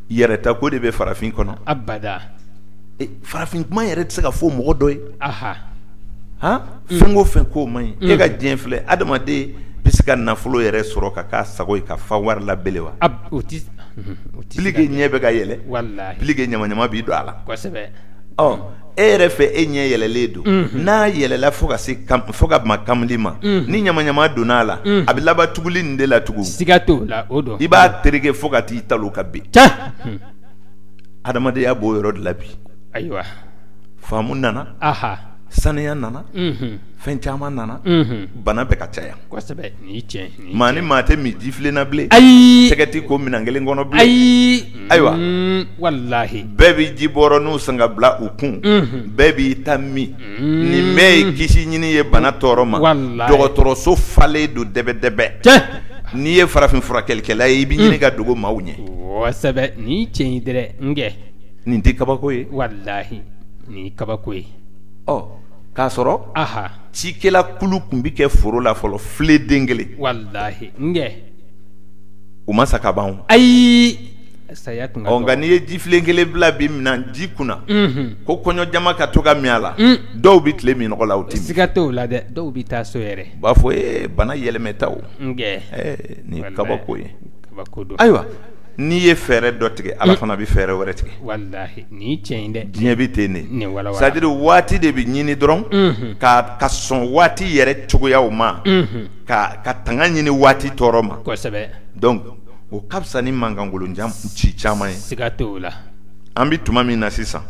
yɛrɛta ko de bɛ farafin kɔnɔ farafin kuma yɛrɛ tɛ se ka fɔ mɔgɔ dɔ ye fɛn o fɛn ko man ɲi e ka diɲɛ filɛ adamaden bɛ se ka nafolo yɛrɛ sɔrɔ ka k'a sago ye ka fa wari la bele wa plus que ɲɛ bɛ ka yɛlɛ plus que ɲamaɲama b'i don a la e yɛrɛ fɛ e ɲɛ yɛlɛlen don n'a yɛlɛla fo ka se fo ka ma kamili ma ni ɲamaɲama donna a la a bɛ laban tuguli nin de la tugun siga t'o la i b'a tereke fo ka t'i talon ka bin adamadenya b'o yɔrɔ de la bi ayiwa faamu nana aha saniya nana unhun fɛn caman nana unhun bana bɛ ka caya kosɛbɛ nin ye tiɲɛ ye, nin ye maa ni maa tɛ min jifilen na bilen ayi tɛgɛ tɛ ko minɛn kelen kɔnɔ bilen ayi Ayiwa. Mm, walahi bɛɛ bɛ ji bɔrɔninw san ka bila u kun unhun bɛɛ b'i ta min nin bɛɛ ye kisi ɲini ye bana tɔɔrɔ ma dɔgɔtɔrɔso falen don dɛbɛdɛbɛ n'i ye farafin furakɛlikɛla ye i bɛ ɲini ka dogo maaw ɲɛ nin tiɲɛ nin tɛ kabako ye walahi nin kabako ye ɔ k'a sɔrɔ a cikɛla kulu tun bɛ kɛ foro la fɔlɔ filen den kelen walahi u ma sa ka ban ayi nka n'i ye jifilen kelen bila bi minniji kunna ko kɔɲɔ jama ka to ka min a la dɔw bɛ tile minnɔgɔ la u tɛ min siga t'o la dɛ dɔw bɛ taa so yɛrɛ u b'a fɔ e bana yɛlɛmɛtaw nin kabako ye kabako ayiwa n'i ye fɛɛrɛ dɔ tigɛ ala fana bɛ fɛɛrɛ wɛrɛ tigɛ diɲɛ bɛ ten de c'est à dire waati de bɛ ɲini dɔrɔn ka ka sɔn waati yɛrɛ cogoya ma ka ka tanga ɲini waati tɔɔrɔ ma o ka fisa ni mankankolo ci caman ye siga t'o la an bɛ tuma min na sisan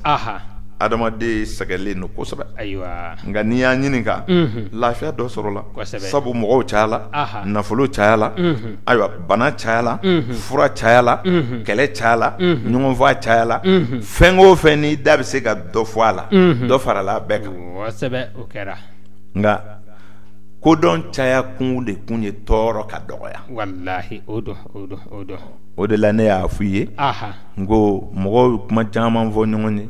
adamaden sɛgɛnlen don kosɛbɛ ayiwa nka n'i y'a ɲininka lafiya dɔ sɔrɔla sabu mɔgɔw cayala nafolo cayala ayiwa bana cayala fura cayala kɛlɛ cayala ɲɔgɔnfɔ cayala fɛn o fɛn n'i da bɛ se ka dɔ fɔ a la dɔ farala bɛɛ kan kosɛbɛ o kɛra nka kodɔn caya kun de kun ye tɔɔrɔ ka dɔgɔya walahi o don o de la ne y'a fɔ i ye n ko mɔgɔw bɛ kuma caman fɔ ɲɔgɔn ye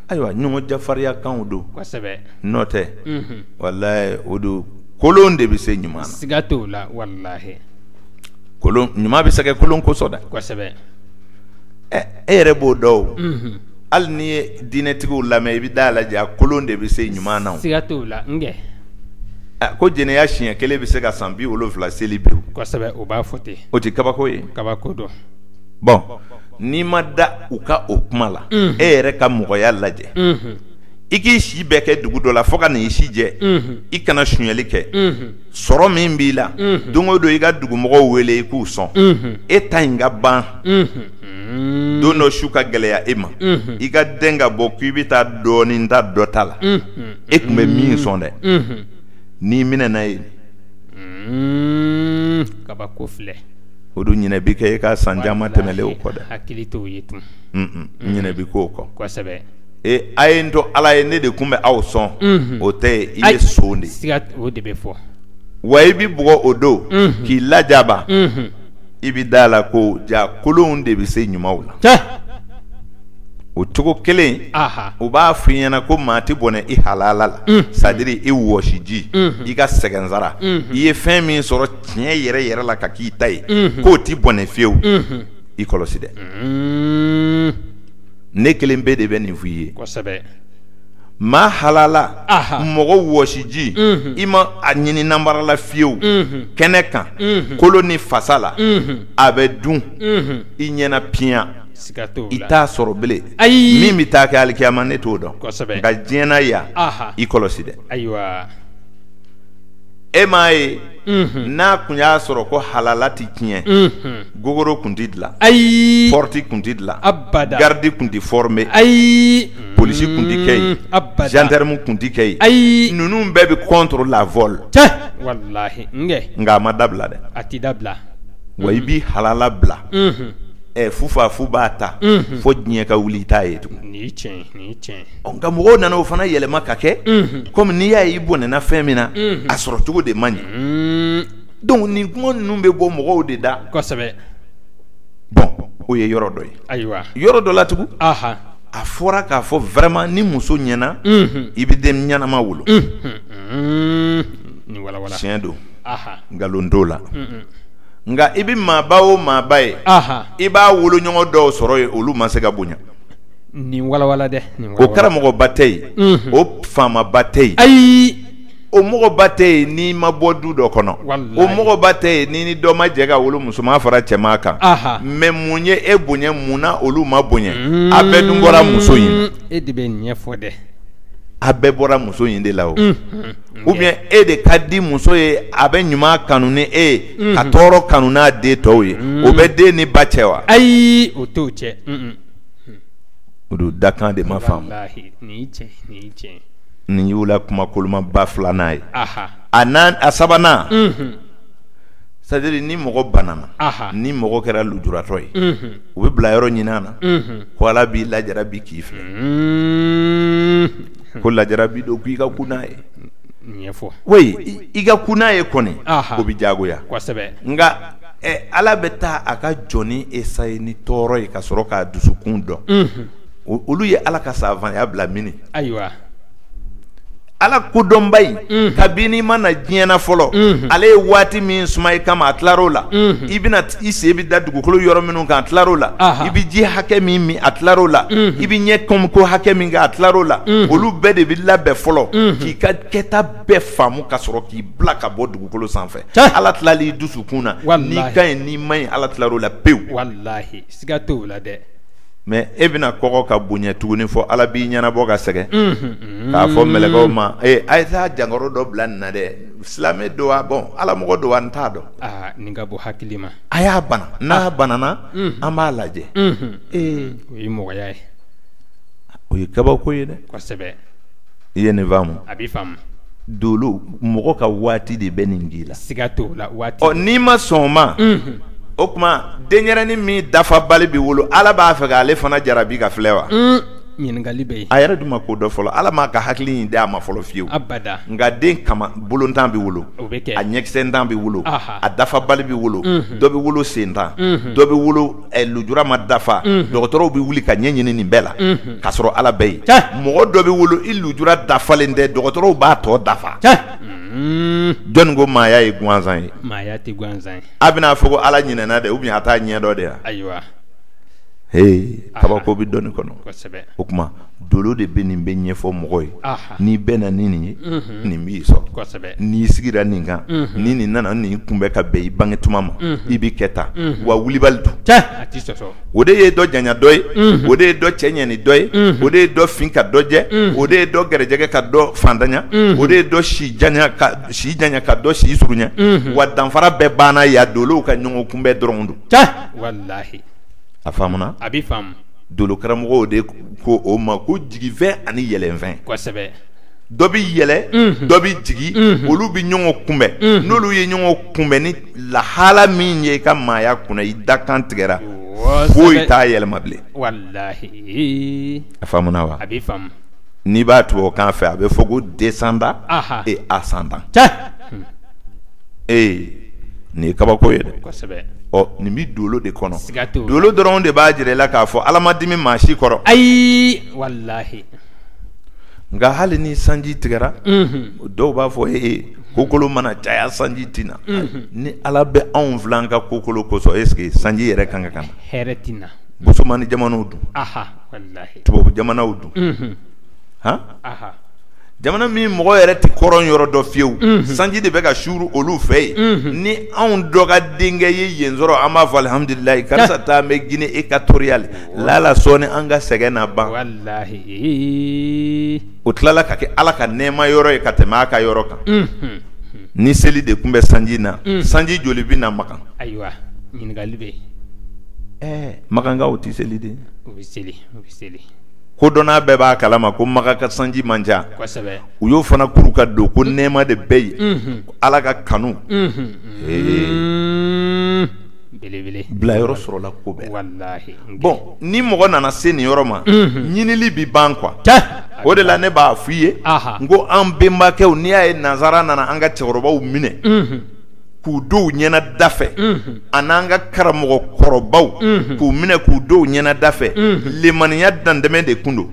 ayiwa ɲɔgɔn jafarinyakanw don kosɛbɛ n'o tɛ walahi o don kolon de bɛ se ɲuman na siga t'o la walahi kolon ɲuman bɛ sɛgɛn kolon kosɔn dɛ kosɛbɛ e yɛrɛ b'o dɔn o hali n'i ye diinɛtigiw lamɛn i bɛ da la ja kolon de bɛ se ɲuman na siga t'o la Ko jɛnɛya siɲɛ kelen bɛ se ka san bi wolonwula seli bin o b'a fɔ ten o tɛ kabako ye kabako don bon n'i ma da u ka o kuma la e yɛrɛ ka mɔgɔya lajɛ i k'i si bɛɛ kɛ dugu dɔ la fo ka n'i si jɛ i kana sonyali kɛ sɔrɔ min b'i la don o don i ka dugumɔgɔw wele i k'u sɔn e ta in ka ban don dɔ su ka gɛlɛya e ma i ka den ka bɔ k' i bɛ taa dɔɔnin ta dɔ ta la e tun bɛ min sɔn dɛ n'i minɛna yen kabako filɛ o don ɲinɛ bɛ kɛ e ka san caman tɛmɛlen o kɔ dɛ hakili t'o ye tun ɲinɛ bɛ k'o kɔ kosɛbɛ ee a ye n to ala ye ne de tun bɛ aw sɔn o tɛ yen i ye son de o de bɛ fɔ wa i bɛ bugɔ o don k'i lajaba i bɛ da la ko ja kolonw de bɛ se ɲumanw na o cogo kelen u b'a f'i ɲɛna ko maa tɛ bɔnɛ i halala la c'est-à-dire i wɔsiji i ka sɛgɛnsara i ye fɛn min sɔrɔ tiɲɛ yɛrɛ yɛrɛ la ka k'i ta ye k'o tɛ bɔnɛ fiyewu i kɔlɔsi dɛ ne kelen pe de bɛ nin f' i ye maa halala mɔgɔ wɔsiji i ma a ɲini nanbara la fiyewu kɛnɛ kan kolo ni fasa la a bɛ dun i ɲɛna piyan i t'a sɔrɔ bilen ayi min bɛ taa kɛ alikiyama ne t'o dɔn nka diɲɛ na yan i kɔlɔsi dɛ e m'a ye n'a tun y'a sɔrɔ ko halala tɛ tiɲɛ gogoro tun tɛ dilan ayi porte tun tɛ dilan garidi tun tɛ formé ayi polisi tun tɛ kɛ yen gendarme tun tɛ kɛ yen ayi ninnu bɛɛ bɛ contre la vol nka a ma dabila dɛ a tɛ dabila wa i bɛ halala bila ɛ fufafu b'a ta fo diɲɛ ka wuli i t'a ye tugun nka mɔgɔw nana o fana yɛlɛma ka kɛ kɔmi n'i y'a ye i bɔnɛna fɛn min na a sɔrɔ cogo de ma ɲɛ donc nin kuma ninnu bɛ bɔ mɔgɔw de da bon o ye yɔrɔ dɔ ye ayiwa yɔrɔ dɔ la tugun a fɔra k'a fɔ vraiment ni muso ɲɛna i bɛ den ɲɛnama wolo tiɲɛ don nkalon t'o la nka i bɛ maaba o maaba ye i b'a woloɲɔgɔn dɔw sɔrɔ yen olu ma se ka bonya Nin walawala dɛ o karamɔgɔba tɛ yen o faamaba tɛ yen ayi o mɔgɔba tɛ yen n'i ma bɔ du dɔ kɔnɔ o mɔgɔba tɛ yen ni ni dɔ ma jɛ ka wolo musoman fara cɛman kan mɛ mun ye e bonya mun na olu ma bonya a bɛɛ dun bɔra muso in e de bɛ ɲɛ ɲɛfɔ dɛ a bɛɛ bɔra muso in de la o ubiyɛn e de ka di muso ye a bɛ ɲuman kanu ni e ye ka tɔɔrɔ kanu n'a den tɔw ye o bɛ den ni ba cɛ wa ayi o t'o cɛ o don dakan de ma faamu nin y'u la kuma kolomaba filanan ye a sabanan sadiri ni mɔgɔ banana ni mɔgɔ kɛra lujuratɔ ye u bɛ bila yɔrɔ ɲinin na ko ala b'i lajarabi k'i filɛ ko lajarabi don i ka kunna ye i ka kunna ye kɔni o b'i diyagoya nka ɛ Ala bɛ taa a ka jɔnnin eseye ni tɔɔrɔ ye ka sɔrɔ k'a dusukun dɔn, unhun, olu ye Ala ka savanya bila mini? Ayiwa, Ala kodɔnba in, unhun, kabini i ma na diɲɛ na fɔlɔ, unhun, ale ye waati min suma i kama a tilar'o la, unhun, i bɛna i sen bɛ da dugukolo yɔrɔ minnu kan a tilar'o la, anhan, i bɛ ji hakɛ min min a tilar'o la, unhun, i bɛ ɲɛkɔmiko hakɛ min kɛ a tilar'o la, unhun, olu bɛɛ de bɛ labɛn fɔlɔ, unhun, k'i ka kɛta bɛɛ faamu ka sɔrɔ k'i bila ka bɔ dugukolo sanfɛ ala tilal'i dusukun na n'i ka ɲi n'i man ɲi ala tilal'o la pewu siga t'o la dɛ mɛ e bɛna kɔgɔ ka bonya tuguni fɔ ala b'i ɲɛnabɔ ka sɛgɛn k'a fɔ mɛlɛkɛw ma a ye taa jankaro dɔ bila nin na dɛ silamɛ don wa bɔn ala mɔgɔ don wa n t'a dɔn nin ka bɔ hakili ma a y'a bana n'a banana an b'a lajɛ ee o ye mɔgɔya ye o ye kabako ye dɛ kosɛbɛ i ye nin faamu a b'i faamu dolo mɔgɔ ka waati de bɛ nin k'i la siga t'o la waati ɔ n'i ma sɔn o ma unhun o tuma denyɛrɛni min dafabali bɛ wolo Ala b'a fɛ k'ale fana jarabi ka filɛ wa un ɲininkali bɛ yen a yɛrɛ dun ma ko dɔn fɔlɔ Ala m'a ka hakili in d'a ma fɔlɔ fiyewu abada nka den kama bolontan bɛ wolo o bɛ kɛ a ɲɛkisɛntan bɛ wolo aha a dafabali bɛ wolo unhun dɔ bɛ wolo sentan unhun dɔ bɛ wolo eh, lujura ma dafa mhm. dɔgɔtɔrɔw bɛ wuli ka ɲɛ ɲini nin bɛɛ la mhm. k'a sɔrɔ ala bɛ yen mɔgɔ dɔ bɛ wolo i lujura dafalen tɛ dɔgɔtɔrɔw b'a tɔ dafa mhm. jɔnni ko maaya ye gansan ye maaya tɛ gansan ye a bɛna fɔ ko ala ɲinɛna dɛ ubiyɛn a t'a ɲɛ dɔn de wa ayiwa hee kabako bɛ dɔnni kɔnɔ o tuma dolo de bɛ nin bɛɛ ɲɛfɔ mɔgɔ ye n'i bɛnna ni nin ye nin b'i sɔrɔ n'i sigira nin kan ni nin nana nin kunbɛn ka bɛn i bange tuma ma i bɛ kɛ tan wa wulibali don o de ye dɔ janya dɔ ye o de ye dɔ cɛ ɲɛ ni dɔ ye o de ye dɔ fin ka dɔ jɛ o de ye dɔ garijɛgɛ ka dɔ fantanya o de ye dɔ si janya ka dɔ si surunya wa danfara bɛɛ banna yan dolow ka ɲɔgɔn kunbɛn dɔrɔn don a a dolo karamɔgɔw de ko o ma ko jigifɛn ani yɛlɛfɛn kosɛbɛ dɔ bɛ yɛlɛ dɔ bɛ jigi olu bɛ ɲɔgɔn kunbɛn n'olu ye ɲɔgɔn kunbɛn ni lahala min ye i ka maaya kunna i dakan tigɛra foyi t'a yɛlɛma bilen a wa a bɛ n'i b'a tubabukan fɛ a bɛ fɔ ko descendant et ascendant ee nin ye kabako ye ɔ nin bɛ dolo de kɔnɔ dolo dɔrɔn de b'a jira i la k'a fɔ ala ma dimi maa si kɔrɔ ayi walahi nka hali ni sanji tigɛra dɔw b'a fɔ e kokolon mana caya sanji tɛ na ni ala bɛ anw fil'an ka kokolon kosɔn est-ce que sanji yɛrɛ ka kan ka na busumani jamanaw dun tubabu jamanaw dun han jamana min mɔgɔ yɛrɛ tɛ kɔrɔn yɔrɔ dɔn fiyewu sanji de bɛ ka suuru olu fɛ yen ni anw dɔ ka denkɛ ye yen sɔrɔ an b'a fɔ alihamudulilayi karisa ta bɛ guinée équatoriale laala sɔɔni an ka sɛgɛn na ban o tilala ka kɛ ala ka nɛɛma yɔrɔ ye ka tɛmɛ a ka yɔrɔ kan ni seli de tun bɛ sanji na sanji joli bɛ na makan ayiwa ɲininkali bɛ yen Makankaw tɛ seli de, u bɛ seli u bɛ seli, kodɔnna bɛɛ b'a kalama ko Makan ka sanji man ca, kosɛbɛ, u y'o fana kuru ka don ko nɛɛma de bɛ yen, unhun, Ala ka kanu, unhun, ee, belebele, bilayɔrɔ sɔrɔla ko bɛɛ la, walahi, bon ni mɔgɔ nana se nin yɔrɔ ma, unhun, ɲinili bɛ ban quoi, tiɲɛ, o de la ne b'a fɔ i ye, anhan, n ko an bɛnbakɛw n'i y'a ye nansara nana an ka cɛkɔrɔbaw minɛ, unhun k'u dɔw ɲɛna dafɛ a n'an ka karamɔgɔ kɔrɔbaw k'u minɛ k'u dɔw ɲɛna dafɛ limaniya dantɛmɛ de tun don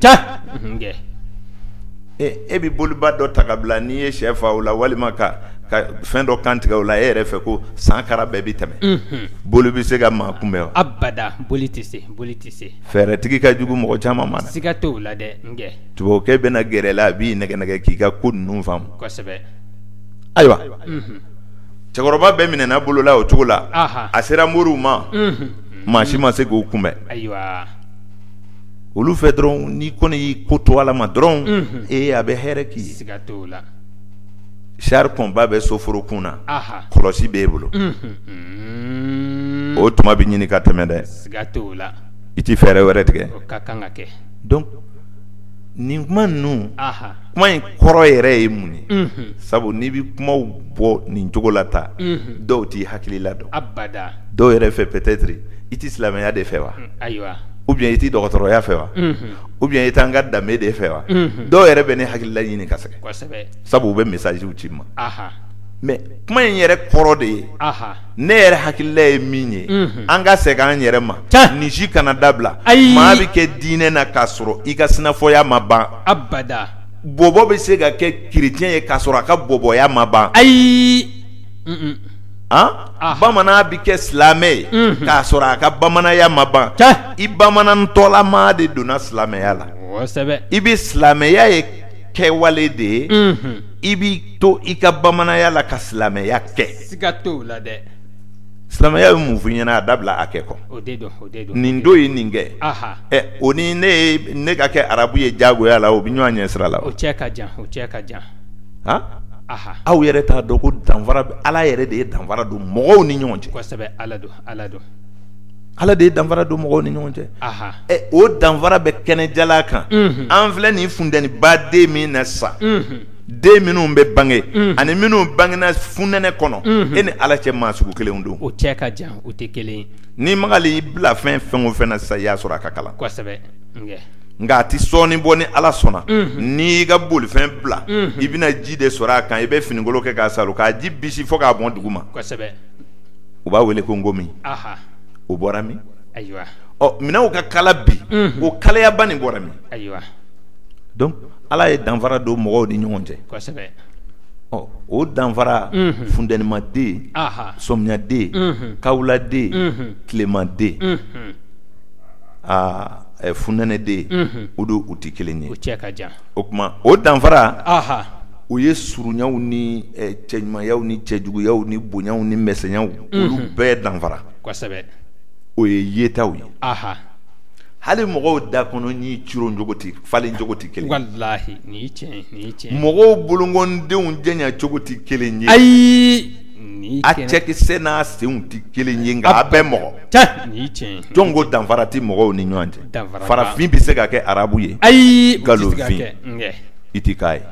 e bɛ boliba dɔ ta ka bila n'i ye shɛ fa o la walima ka fɛn dɔ kan tigɛ o la e yɛrɛ fɛ ko san kara bɛɛ bɛ tɛmɛ boli bɛ se ka maa kunbɛn wa abada boli tɛ se boli tɛ se fɛɛrɛtigi ka jugu mɔgɔ caman ma siga t'o la dɛ tubabukɛ bɛna gɛrɛ i la a b'i nɛgɛn nɛgɛn k'i ka ko ninnu faamu ayiwa cɛkɔrɔba bɛɛ minɛna bolola o cogo la a sera moriw ma maa si ma se k'o kunbɛn olu fɛ dɔrɔn n'i kɔni y'i ko to ala ma dɔrɔn ee a bɛ hɛrɛ k'i ye siga t'o la char combat bɛ soforokun na kɔlɔsi bɛ e bolo o tuma bɛ ɲini ka tɛmɛ dɛ i tɛ fɛɛrɛ wɛrɛ tigɛ nin kuma ninnu kuma in kɔrɔ yɛrɛ ye mun ye sabu n'i bɛ kumaw bɔ nin cogo la tan dɔw t'i hakilila dɔn dɔw yɛrɛ fɛ peut-être i tɛ silamɛya de fɛ wa ou bien i tɛ dɔgɔtɔrɔya fɛ wa ou bien i t'an ka danbe de fɛ wa dɔw yɛrɛ bɛ ne hakilila ɲini ka sɛgɛn sabu u bɛ messagew ci n ma mais kuma in yɛrɛ kɔrɔ de ye ne yɛrɛ hakilila ye min ye an ka segin an yɛrɛ ma nin si kana dabila ayi maa bɛ kɛ diinɛ na k'a sɔrɔ i ka sinafɔya ma ban abada bɔbɔ bɛ se ka kɛ chrétien ye k'a sɔrɔ a ka bɔbɔya ma ban ayi bamanan bɛ kɛ silamɛ ye k'a sɔrɔ a ka bamananya ma ban i bamanantɔlama de donna silamɛya la i bɛ silamɛya ye kɛwale de ye i b'i to i ka bamananya la ka silamɛya kɛ siga t'o la dɛ silamɛya ye mun f'i ɲɛna a dabila a kɛ ko nin to yen nin kɛ o ni ne ne ka kɛ arabu ye jagoya la o bɛ ɲɔgɔn ɲɛ sira la o cɛ ka jan o cɛ ka jan aw yɛrɛ t'a dɔn ko danfara bɛ ala yɛrɛ de ye danfara don mɔgɔw ni ɲɔgɔn cɛ ala don ala don ala de ye danfara don mɔgɔw ni ɲɔgɔn cɛ o danfara bɛ kɛnɛ jalan kan an filɛ nin funteniba de min na sa den minnu bɛ bange ani minnu bangena funɛnɛ kɔnɔ e ni ala cɛ maa sugu kelenw don o cɛ ka jan o tɛ kelen n'i magara i bilafɛn fɛn o fɛn na sisan i y'a sɔrɔ a ka kalan nka a tɛ sɔɔni bɔ ni ala sɔnna n'i ka bolifɛn bila i bɛna ji de sɔrɔ a kan i bɛ finikolon kɛ k'a saalo k'a ji bisi fo k'a bɔn dugu ma u b'a wele ko nkɔmi o bɔra min ayiwa minɛnw ka kalan bi o kalayaba nin bɔra min ayiwa donc Ala ye danfara don mɔgɔw ni ɲɔgɔn cɛ, kosɛbɛ, ɔ o danfara, unhun, funtɛnimaden, anhan, sɔmiyaden, unhun, kawuladen, unhun, tilemaden, unhun, aa ɛ funɛnɛden, unhun, o don u tɛ kelen ye, u cɛ ka jan, o tuma o danfara, anhan, o ye surunyaw ni cɛɲumanyaw ni cɛjuguyaw ni bonyaw ni misɛnyaw, unhun, olu bɛɛ danfara, kosɛbɛ, o ye yetaw ye, anhan hali mɔgɔw da kɔnɔ ɲin coro cogo tɛ falen cogo tɛ kelen mɔgɔw bolonkɔndenw janya cogo tɛ kelen ye ayi a cɛkisɛ n'a senw tɛ kelen ye nka a bɛɛ mɔgɔ jɔn ko danfara tɛ mɔgɔw ni ɲɔgɔn cɛ farafin bɛ se ka kɛ arabu ye ayi nkalonfin i tɛ k'a ye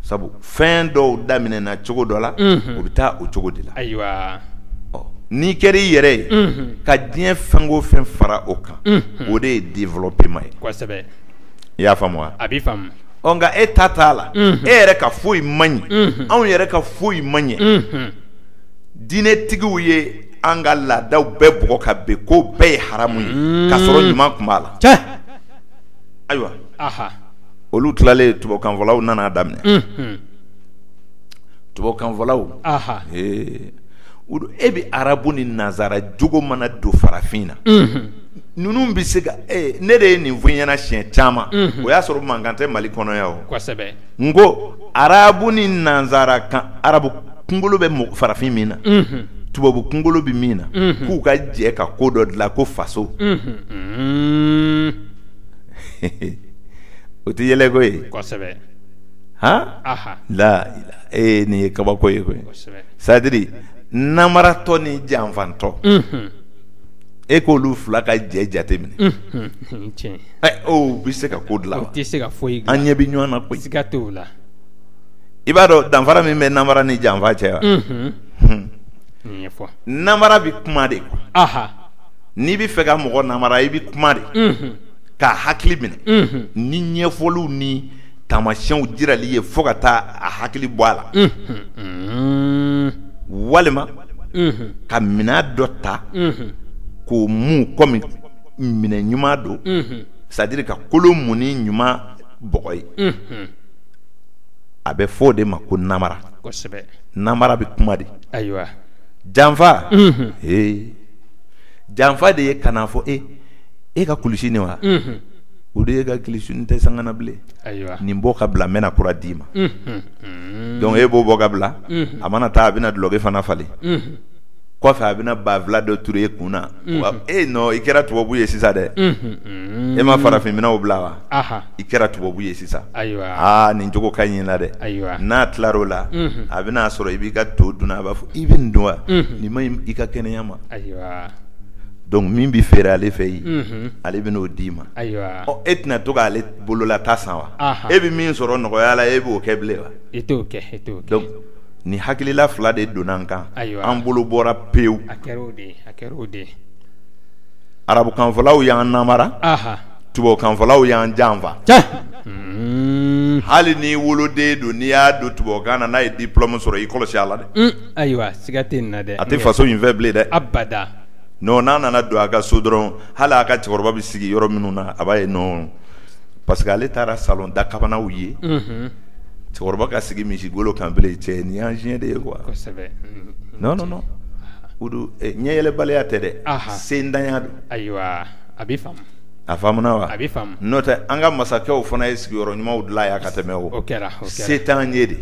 sabu fɛn dɔw daminɛna cogo dɔ la o bɛ taa o cogo de la ayiwa n'i kɛra i yɛrɛ ye ka diɲɛ fɛn o fɛn fara o kan o de ye développement ye i y'a faamu a bɛ nka e ta t'a la e yɛrɛ ka foyi man ɲi anw yɛrɛ ka foyi man ɲɛ diinɛtigiw ye an ka laadaw bɛɛ bugɔ ka bin ko bɛɛ ye haramu ye k'a sɔrɔ ɲuman tun b'a la ayiwa olu tilalen tubabukanfɔlaw nana daminɛ tubabukanfɔlaw e bɛ arabu ni nansara jogo mana don farafin na ninnu bɛ se ka ne de ye nin fɔ ɲɛna siɲɛ caman o y'a sɔrɔ mankan tɛ mali kɔnɔ yan o n ko arabu ni nansara kan arabu kunkolo bɛ farafin min na tubabu kunkolo bɛ min na k'u ka jɛ ka ko dɔ dilan ko faso o tɛ yɛlɛ ko ye kosɛbɛ han la e nin ye kabako ye koyi c'est-à-dire namaratɔ ni janfantɔ e k'olu fila ka jɛ jate minɛ bɛ se ka ko dilan tɛ se ka foyi an ɲɛ bɛ ɲɔgɔn na koyi siga t'o la i b'a dɔn danfara min bɛ namara ni janfa cɛ wa namara bɛ kuma de n'i bɛ fɛ ka mɔgɔ namara i bɛ kuma de k'a hakili minɛ ni ɲɛfɔliw ni taamasiyɛnw jirali ye fo ka taa a hakili bɔ a la walima ka minɛn dɔ ta k'o mun kɔmi minɛn ɲuman don c'est-à-dire ka kolo mun ni ɲuman bɔgɔ ye a bɛ fɔ o de ma ko namara namara bɛ kuma de ayiwa janfa ee janfa de ye ka n'a fɔ e e ka kulusi nin wa o de e ka kulusi nin tɛ sanga na bilen nin bɔ ka bila n bɛna kura d'i ma donc e b'o bɔ ka bila a mana taa a bɛna dulɔki fana falen kɔfɛ a bɛna banfula dɔ turu e kun na e i kɛra tubabu ye sisan dɛ e ma farafin minɛnw bila wa i kɛra tubabu ye sisan aaa nin cogo ka ɲi i la dɛ n'a tilar'o la a bɛn'a sɔrɔ i b'i ka to dun a b'a fɔ i bɛ nin dun wa nin man ɲi i ka kɛnɛya ma donc min bɛ feere ale fɛ yen ale bɛn'o d'i ma e tɛna to k'ale bolola ta san wa e bɛ min sɔrɔ nɔgɔya la e b'o kɛ bilen wa e t'o kɛ donc nin hakilila fila de donna an kan an bolo bɔra pewu arabukanfɔlaw y'an namara tubabukanfɔlaw y'an janfa hali n'i woloden don n'i y'a don tubabukan na n'a ye diplôme sɔrɔ i kɔlɔsi a la dɛ ayiwa a tɛ faso in fɛ bilen dɛ non n'a nana don a ka so dɔrɔn hali a ka cɛkɔrɔba bɛ sigi yɔrɔ minnu na a b'a ye non parce que ale taara salon dakabanaw ye, unhun, cɛkɔrɔba ka sigi misi golo kan bilen cɛ nin y'an siɲɛ de ye quoi, kosɛbɛ, non non non o don ɲɛyɛlɛbaliya tɛ dɛ, ahan, sentanya don, ayiwa a bɛ faamu A faamuna wa a bɛ faamu n'o tɛ an ka masakɛw fana ye sigiyɔrɔ ɲumanw dilan yan ka tɛmɛ o kɛra se t'an ye de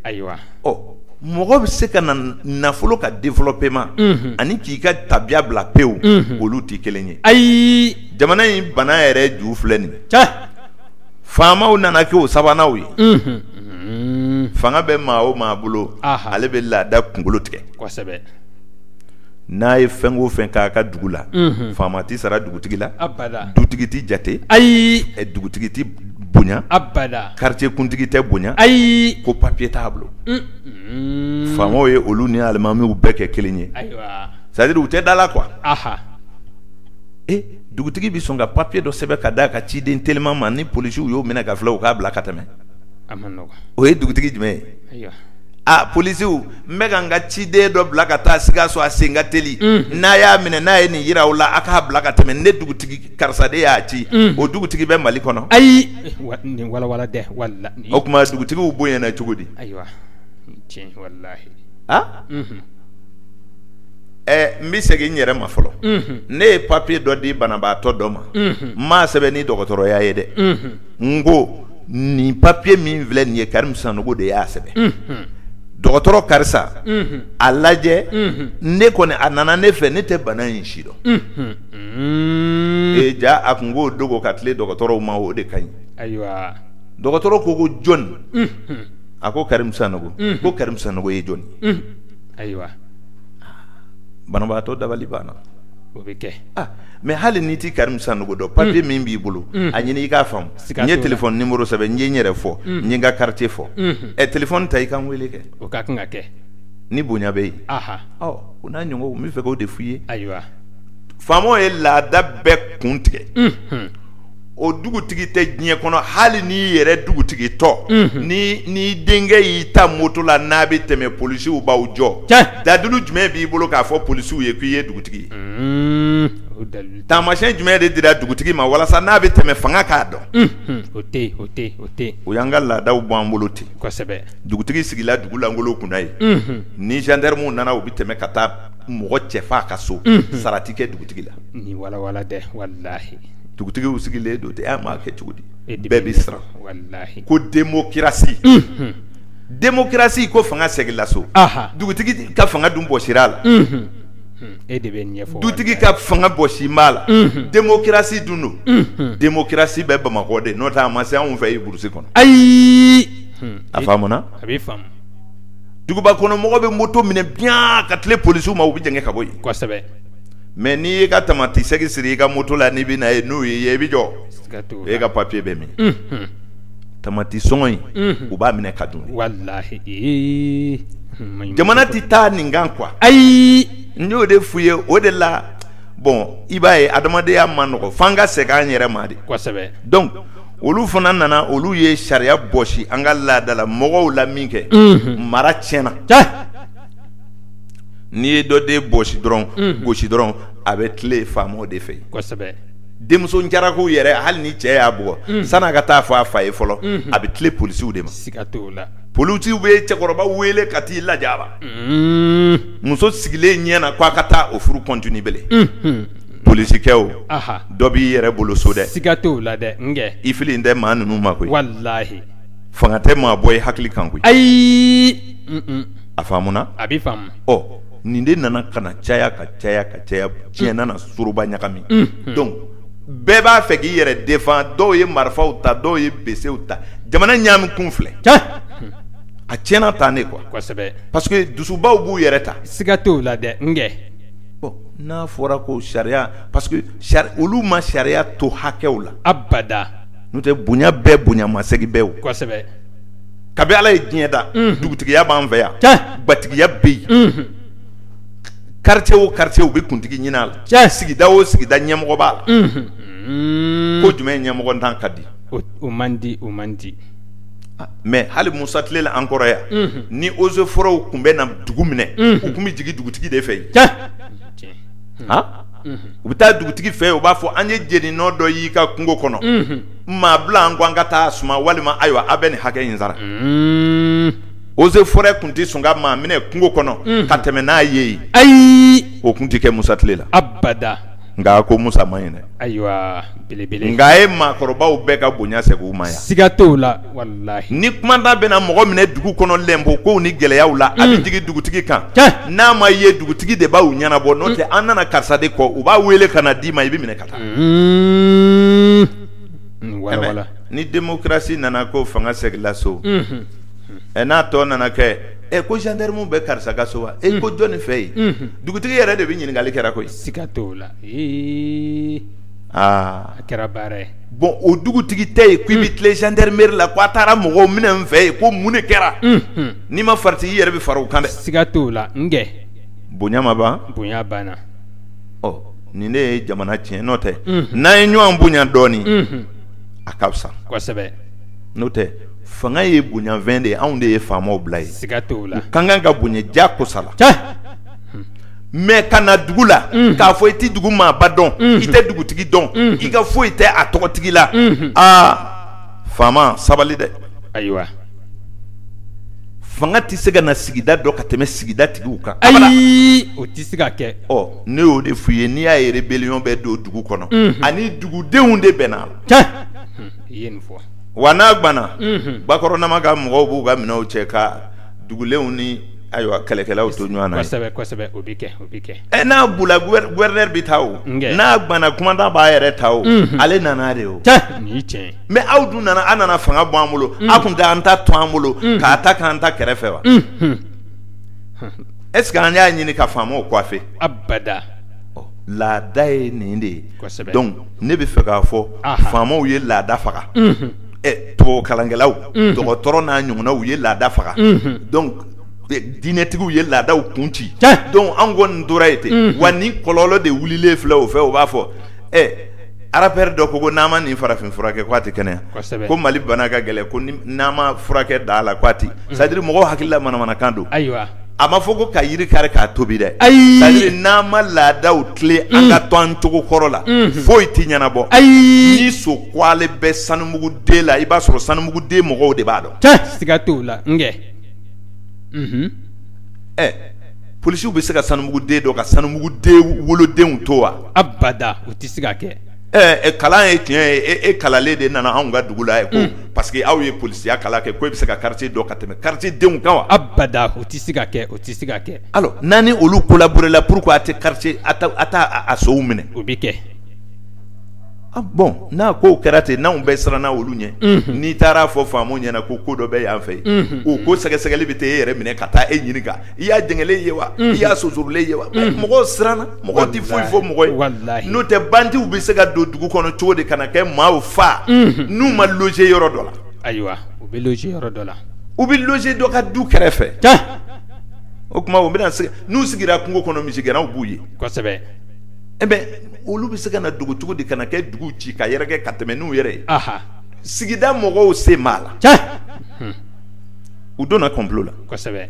ayiwa ɔ mɔgɔ bɛ se ka na nafolo ka développement ani k'i ka tabiya bila pewu olu tɛ kelen ye ayi jamana in bana yɛrɛ ju filɛ nin faamaw nana kɛ o sabananw ye fanga bɛ maa o maa bolo ale bɛ laada kunkolo tigɛ n'a ye fɛn o fɛn k'a ka dugu la faama tɛ sara dugutigi la dugutigi tɛ jate ayi dugutigi tɛ bonya abada karitiye kuntigi tɛ bonya ayi ko papiye t'a bolo faamaw ye olu ni alimamiw bɛɛ kɛ kelen ye c'est-à-dire u tɛ da la quoi ee dugutigi bɛ sɔn ka papiye dɔ sɛbɛn ka d'a ka ciden teliman ma ni polisiw y'o minɛ ka filɛ u k'a bila ka tɛmɛ o ye dugutigi jumɛn ye aa polisiw n bɛ ka n ka ciden dɔ bila ka taa sikaso a sen ka teli n'a y'a minɛ n'a ye nin jira u la a k'a bila ka tɛmɛ ne dugutigi karisa de y'a ci o dugutigi bɛ mali kɔnɔ ayi nin walawala dɛ o tuma dugutigiw bonyana cogo di ayiwa aa ɛ n bɛ segin n yɛrɛ ma fɔlɔ ne ye papiye dɔ di banabaatɔ dɔ ma n m'a sɛbɛn ni dɔgɔtɔrɔya ye dɛ n ko nin papiye min filɛ nin ye karimu sanɔgɔ de y'a sɛbɛn dɔgɔtɔrɔ karisa a lajɛ ne kɔni a nana ne fɛ ne tɛ bana in si dɔn ee ja a kun k'o dogo ka tile dɔgɔtɔrɔw ma o de ka ɲi ayiwa dɔgɔtɔrɔ ko ko jɔn a ko karimu sanɔgɔ ko karimu sanɔgɔ ye jɔn ayiwa banabaatɔ dabali banna o bɛ kɛ mɛ hali n'i tɛ karimu sanɔgɔ dɔn papiye mm. min b'i bolo mm. a ɲini i k'a faamu n ye telefɔni nimɔrɔ sɛbɛn n ye n yɛrɛ fɔ mm. n ye n ka karitiye fɔ mm-hmm. ɛ telefɔni ta i ka n weele kɛ o ka kan ka kɛ ni bonya bɛ yen o n'a ɲɔgɔnw n bɛ fɛ k'o de f'i ye ayiwa faamaw ye laada bɛɛ kun tigɛ mm-hmm. o dugutigi tɛ diɲɛ kɔnɔ hali n'i yɛrɛ dugutigi tɔ n'i denkɛ y'i ta moto la n'a bɛ tɛmɛ polisiw b'aw jɔ dalilu jumɛn b'i bolo k'a fɔ polisiw ye k'i ye dugutigi ye taamasiyɛn jumɛn de dira dugutigi ma walasa n'a bɛ tɛmɛ fanga k'a dɔn o y'an ka laadaw bɔ an bolo ten dugutigi sigila dugu lankolon kunna ye ni zandaramuw nana u bɛ tɛmɛ ka taa mɔgɔ cɛfa ka so sara tɛ kɛ dugutigi la dugutigiw sigilen don ten m'a kɛ cogo di bɛɛ bɛ siran ko demokarasi demokarasi ko fanga seginna so dugutigi ka fanga dun bɔsira a la e de bɛ dugutigi ka fanga bɔsi ma la demokarasi dun don demokarasi bɛ bamakɔ de n'o tɛ a ma se anw fɛ burusi kɔnɔ ayi a faamuna a duguba kɔnɔmɔgɔ bɛ moto minɛ bien ka tile polisiw ma u bɛ jɛngɛ ka bɔ mɛ n'i y'i ka tamati segi siri i ka moto la n'i bɛ na ye n'u ye i bɛ jɔ e ka papiye bɛ min tamati sɔngɔ in u b'a minɛ ka dun jamana tɛ taa nin kan quoi ayi n y'o de f'u ye o de la bɔn i b'a ye adamadenya man nɔgɔ f'an ka segin an yɛrɛ ma de donc olu fana nana olu ye sariya bɔsi an ka laadala mɔgɔw la min kɛ mara tiɲɛna n'i ye dɔ den bɔsi dɔrɔn gosi dɔrɔn a bɛ tile faamaw de fɛ denmuso cɛlakow yɛrɛ hali ni cɛ y'a bugɔ san'a ka taa fɔ a fa ye fɔlɔ a bɛ tile polisiw de ma siga t'o la polisiw bɛ cɛkɔrɔba wele ka t'i lajaba muso sigilen ɲɛ na k'a ka taa o furu continue bele polisikɛw dɔ b'i yɛrɛ bolo so dɛ siga t'o la dɛ i fili tɛ maa ninnu ma koyi walahi fanga tɛ maa bɔ i hakili kan koyi ayi a faamuna a bɛ faamu ɔ nin de nana ka na caya ka caya ka caya diɲɛ nana soroba ɲagami donc bɛɛ b'a fɛ k'i yɛrɛ defan dɔw ye marifaw ta dɔw ye besew ta jamana ɲami kun filɛ a tiɲɛna tan ne kuwa parce que dusubaw b'u yɛrɛ ta siga t'o la dɛ n n'a fɔra ko sariya parce que olu ma sariya to hakɛw la abada n'o tɛ bonya bɛɛ bonyamasegin bɛɛ kabi ala ye diɲɛ da dugutigiya b'an fɛ yan gatigiya bɛ yen karicɛ o karicɛ u bɛ kuntigi ɲinin a la sigida o sigida ɲɛmɔgɔ b'a la ko jumɛn ɲɛmɔgɔntan ka di o man di o man di mɛ hali musa tile la an kɔrɔ yan ni oze fɔrɛw tun bɛ na dugu minɛ u tun bɛ jigin dugutigi de fɛ yen u bɛ taa dugutigi fɛ u b'a fɔ an ye jeni nɔ dɔ y'i ka kungo kɔnɔ maa bila an ko an ka taa suma walima ayiwa a bɛ nin hakɛ in sara oze fɔrɛ tun tɛ sɔn ka maa minɛ kungo kɔnɔ ka tɛmɛ n'a ye yen ayi o tun tɛ kɛ musa tile la abada nka ko musa man ɲi dɛ ayiwa belebele nka a ye maakɔrɔbaw bɛɛ ka bonya segin u ma yan siga t'o la walahi ni kumandan bɛna mɔgɔ minɛ dugu kɔnɔ lɛnpo kow ni gɛlɛyaw la a bɛ jigin dugutigi kan n'a ma ye dugutigi de b'aw ɲɛnabɔ n'o tɛ an nana karisa de kɔ u b'a wele ka na d'i ma i bɛ minɛ ka wala ni demokarasi nana ko fanga segila so ɛ n'a tɔ nana kɛ ɛ ko jandamu bɛ karisa ka so wa e ko jɔnni fɛ yen dugutigi yɛrɛ de bɛ ɲininkali kɛra koyi siga t'o la aa a kɛra baara ye bɔn o dugutigi tɛ yen ko i bɛ tilen jandarameri la ko a taara mɔgɔw minɛ n fɛ yen ko mun de kɛra n'i ma farati i yɛrɛ bɛ fara u kan dɛ siga t'o la n bonya ma ban bonya banna ɔ nin ne ye jamana tiɲɛ n'o tɛ n'an ye ɲɔgɔn bonya dɔɔnin a ka fisa kosɛbɛ n'o tɛ fanga ye bonyafɛn de ye anw de ye faamaw bila yen siga t'o la u ka kan ka bonya ja kosala mais ka na dugu la k'a fɔ i tɛ dugu maaba dɔn i tɛ dugutigi dɔn i ka foyi tɛ a tɔgɔtigi la aa faama sabali dɛ ayiwa fanga tɛ se ka na sigida dɔ ka tɛmɛ sigida tigiw kan ayi o tɛ se ka kɛ ne y'o de f'u ye n'i y'a ye rébellion bɛ don dugu kɔnɔ, unhun, ani dugudenw de bɛnna a la, tiɲɛ, i ye nin fɔ, wa n'a guwanna, unhun, Bakɔrɔnama ka mɔgɔw b'u ka minɛnw cɛ ka dugulenw ni ayiwa kɛlɛkɛlaw to ɲɔgɔn na yen, kosɛbɛ, kosɛbɛ, o bɛ kɛ, o bɛ kɛ, ɛ n'a bula gouverneur bɛ taa o, n kɛ, n'a guwanna commandant b'a yɛrɛ ta o, unhun, ale nana de o, tiɲɛ, nin ye tiɲɛ ye, mais aw dun nana aw nana fanga bɔ an bolo, unhun, aw kun tɛ an ta to an bolo, unhun, k'a ta k'an ta kɛrɛfɛ wa, unhun. est-ce que an y'a ɲini ka faamaw coiffer abada laada ye nin de ye donc ne bɛ fɛ k'a fɔ faamaw ye laada faga ɛ tubabu kalankɛlaw dɔgɔtɔrɔ n'a ɲɔgɔnnaw u ye laada faga donc diinɛtigiw ye laadaw kun ci donc an kɔni tora yen ten wa nin kɔlɔlɔ de wulilen filɛ o fɛ o b'a fɔ ɛ Rappeur dɔ ko ko n'a ma nin farafin furakɛ ko a tɛ kɛnɛya ko mali bana ka gɛlɛn ko n'a ma furakɛ da a la k'a tɛ c'est-à-dire mɔgɔw hakilila manamanakan don ayiwa a ma fɔ ko ka yiri kari k'a tobi dɛ c'est-à-dire n'an ma laadaw tilen an ka to an cogo kɔrɔ la foyi tɛ ɲɛnabɔ ayi ni son ko ale bɛ Sanubugu deux la i b'a sɔrɔ Sanubugu deux mɔgɔw de b'a dɔn siga t'o la n ɛ polisiw bɛ se ka Sanubugu deux dɔn ka Sanubugu deux wolodenw to wa abada o tɛ se ka kɛ ɛ kalan ye tiɲɛ ye e kalannen de nana anw ka dugu la ye ko parce que aw ye polisiya kalan kɛ ko e bɛ se ka quartier dɔn ka tɛmɛ quartier denw kan wa abada o tɛ se ka kɛ o tɛ se ka kɛ n'a ni olu collaborer la pourquoi a tɛ quartier a t'a sonw minɛ o bɛ kɛ Bon n'a kow kɛra ten n'anw bɛɛ siranna olu ɲɛ n'i taar'a fɔ faamaw ɲɛna ko ko dɔ bɛ yan fɛ yen o ko sɛgɛsɛgɛli bɛ taa e yɛrɛ minɛ ka taa e ɲininka i y'a jɛngɛlen ye wa i y'a sonsorolen ye wa mɔgɔw siranna mɔgɔ tɛ foyi fɔ mɔgɔ ye n'o tɛ bandiw bɛ se ka don dugu kɔnɔ cogo di ka na kɛ maaw faa n'u ma loger yɔrɔ dɔ la ayiwa u bɛ loger yɔrɔ dɔ la u bɛ loger dɔ ka du kɛrɛfɛ o tuma u bɛna n'u sigira kungo kɔnɔ misigɛnnaw b'u ye e bɛ olu bɛ se ka na dogo cogo di ka na kɛ dugu ci ka yɛrɛkɛ ka tɛmɛ n'u yɛrɛ ye sigida mɔgɔw sen b'a la u donna complot la kosɛbɛ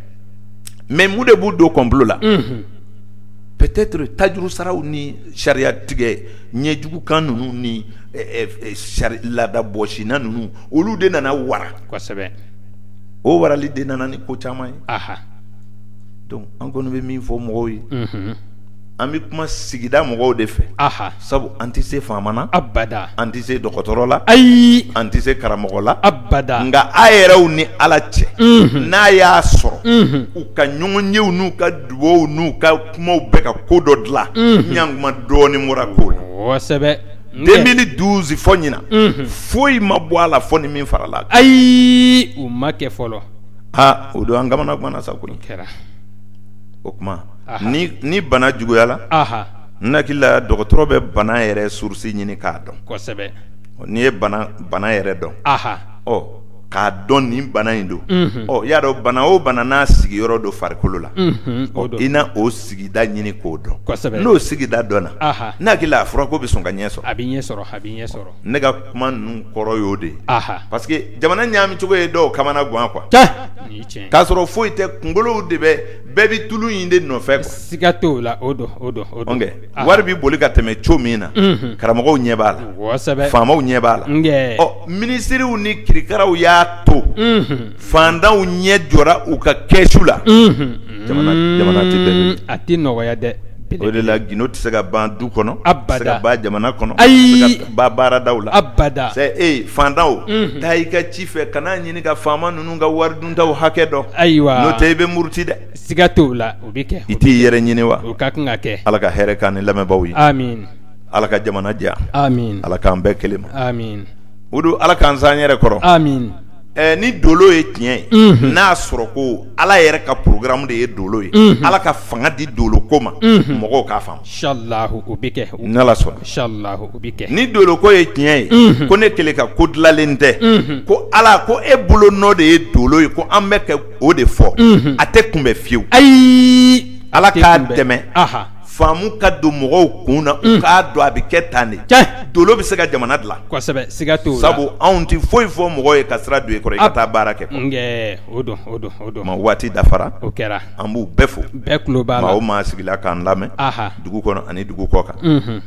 mais mun de b'u don complot la peut-être tajuru saraw ni sariya tigɛ ɲɛjugu kan ninnu ni laada bɔsina ninnu olu de nana wara kosɛbɛ o warali de nana ni ko caman ye an kɔni bɛ min fɔ mɔgɔw ye an bɛ kuma sigida mɔgɔw de fɛ a sabu an tɛ se faama na abada an tɛ se dɔgɔtɔrɔ la ayi an tɛ se karamɔgɔ la abada nka a yɛrɛw ni ala cɛ n'a y'a sɔrɔ u ka ɲɔgɔnyew n'u ka dugaw n'u ka kumaw bɛ ka ko dɔ dilan ɲankuma dɔɔnin bɔra ko la kosɛbɛ deux mille douze fɔ ɲinan foyi ma bɔ a la fɔ ni min farala ayi o ma kɛ fɔlɔ aa o don an kamana ganna sa o kɛra o tuma ni bana juguyala n hakili la dɔgɔtɔrɔ bɛ bana yɛrɛ source ɲini k'a dɔn n'i ye bana yɛrɛ dɔn ɔ k'a dɔn nin bana in don ɔ y'a dɔn bana o bana n'a sigiyɔrɔ don farikolo la i na o sigida ɲini k'o dɔn n'o sigida dɔnna ne hakili la a furako bɛ sɔn ka ɲɛ sɔrɔ a bɛ ɲɛ sɔrɔ a bɛ ɲɛ sɔrɔ ne ka kuma ninnu kɔrɔ y'o de parce que jamana ɲaami cogo ye dɔw kamana gan quoi k'a sɔrɔ foyi tɛ kunkolow de bɛ bɛɛ bɛ tulu in de nɔfɛ siga t'o la o don wari bɛ boli ka tɛmɛ cogo min na karamɔgɔw ɲɛ b'a la faamaw ɲɛ b'a la ɔ minisiriw ni kirikaraw y'a to fantanw ɲɛ jɔra u ka kɛsu la jamana tɛ bɛn a tɛ nɔgɔya dɛ o de la gdo tɛ se ka ban du kɔnɔ abada ban jamana kɔnɔ ayi ban baaradaw la abada e fantan taa i ka ci fɛ kana ɲini ka faama ninnu ka wari duntaw hakɛ dɔn ayiwa n'o tɛ i bɛ muruti dɛ siga t'o la o bɛ kɛ i t'i yɛrɛ ɲini wa o ka kan ka kɛ ala ka hɛrɛ k'an ni lamɛnbaaw ye amin ala ka jamana diya amin ala k'an bɛn kelen ma amin o don ala k'an s'an yɛrɛ kɔrɔ amin ɛɛ ni dolo ye tiɲɛ ye mhm. n'a sɔrɔ ko ala yɛrɛ ka programme de ye dolo ye mhm. ala ka fanga di dolo ko ma mhm. mɔgɔw k'a faamu inshallah o bɛ kɛ n'ala sɔnna inshallah o bɛ kɛ ni dolo ko ye tiɲɛ ye ko ne kelen ka ko dilanlen tɛ ko ala ko e bolo nɔ de ye dolo ye ko an bɛ kɛ o de fɔ a tɛ kunbɛn fiyewu ayi ala k'a dɛmɛ aha faamu ka don mɔgɔw kun na u k'a dɔn a bɛ kɛ tan de dolo bɛ se ka jamana dilan siga t'o la sabu anw tɛ foyi fɔ mɔgɔ ye ka sira don i kɔrɔ i ka taa baara kɛ o don kuma waati dafara o kɛra an b'u bɛɛ fo bɛɛ tulo b'a la maa o maa sigila k'an lamɛn dugu kɔnɔ ani dugu kɔ kan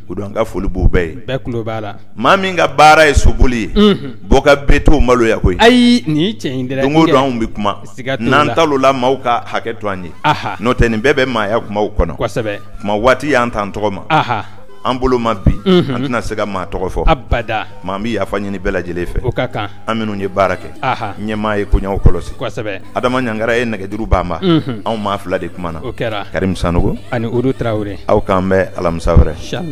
o don an ka foli b'u bɛɛ ye bɛɛ tulo b'a la maa min ka baara ye soboli ye bɔ ka bɛ to maloya ko ayi nin ye tiɲɛ dɛ don o don anw bɛ kuma n'an tal'o la maaw ka hakɛ to an ye n'o tɛ nin bɛɛ bɛ maaya kumaw kɔnɔ kosɛbɛ kuma waati y'an tan tɔgɔ ma an bolo ma bi an tɛna se ka maa tɔgɔ fɔ abada maa an bɛ yafa ɲini bɛɛ lajɛlen fɛ o ka kan an minnu ye baara kɛ ɲɛmaa ye koɲaw kɔlɔsi kosɛbɛ adama ɲangara ye nɛgɛjuru banba anw maa fila de kumana o kɛra karim sanɔgɔ ani udu tarawele aw k'an bɛn alamisa wɛrɛ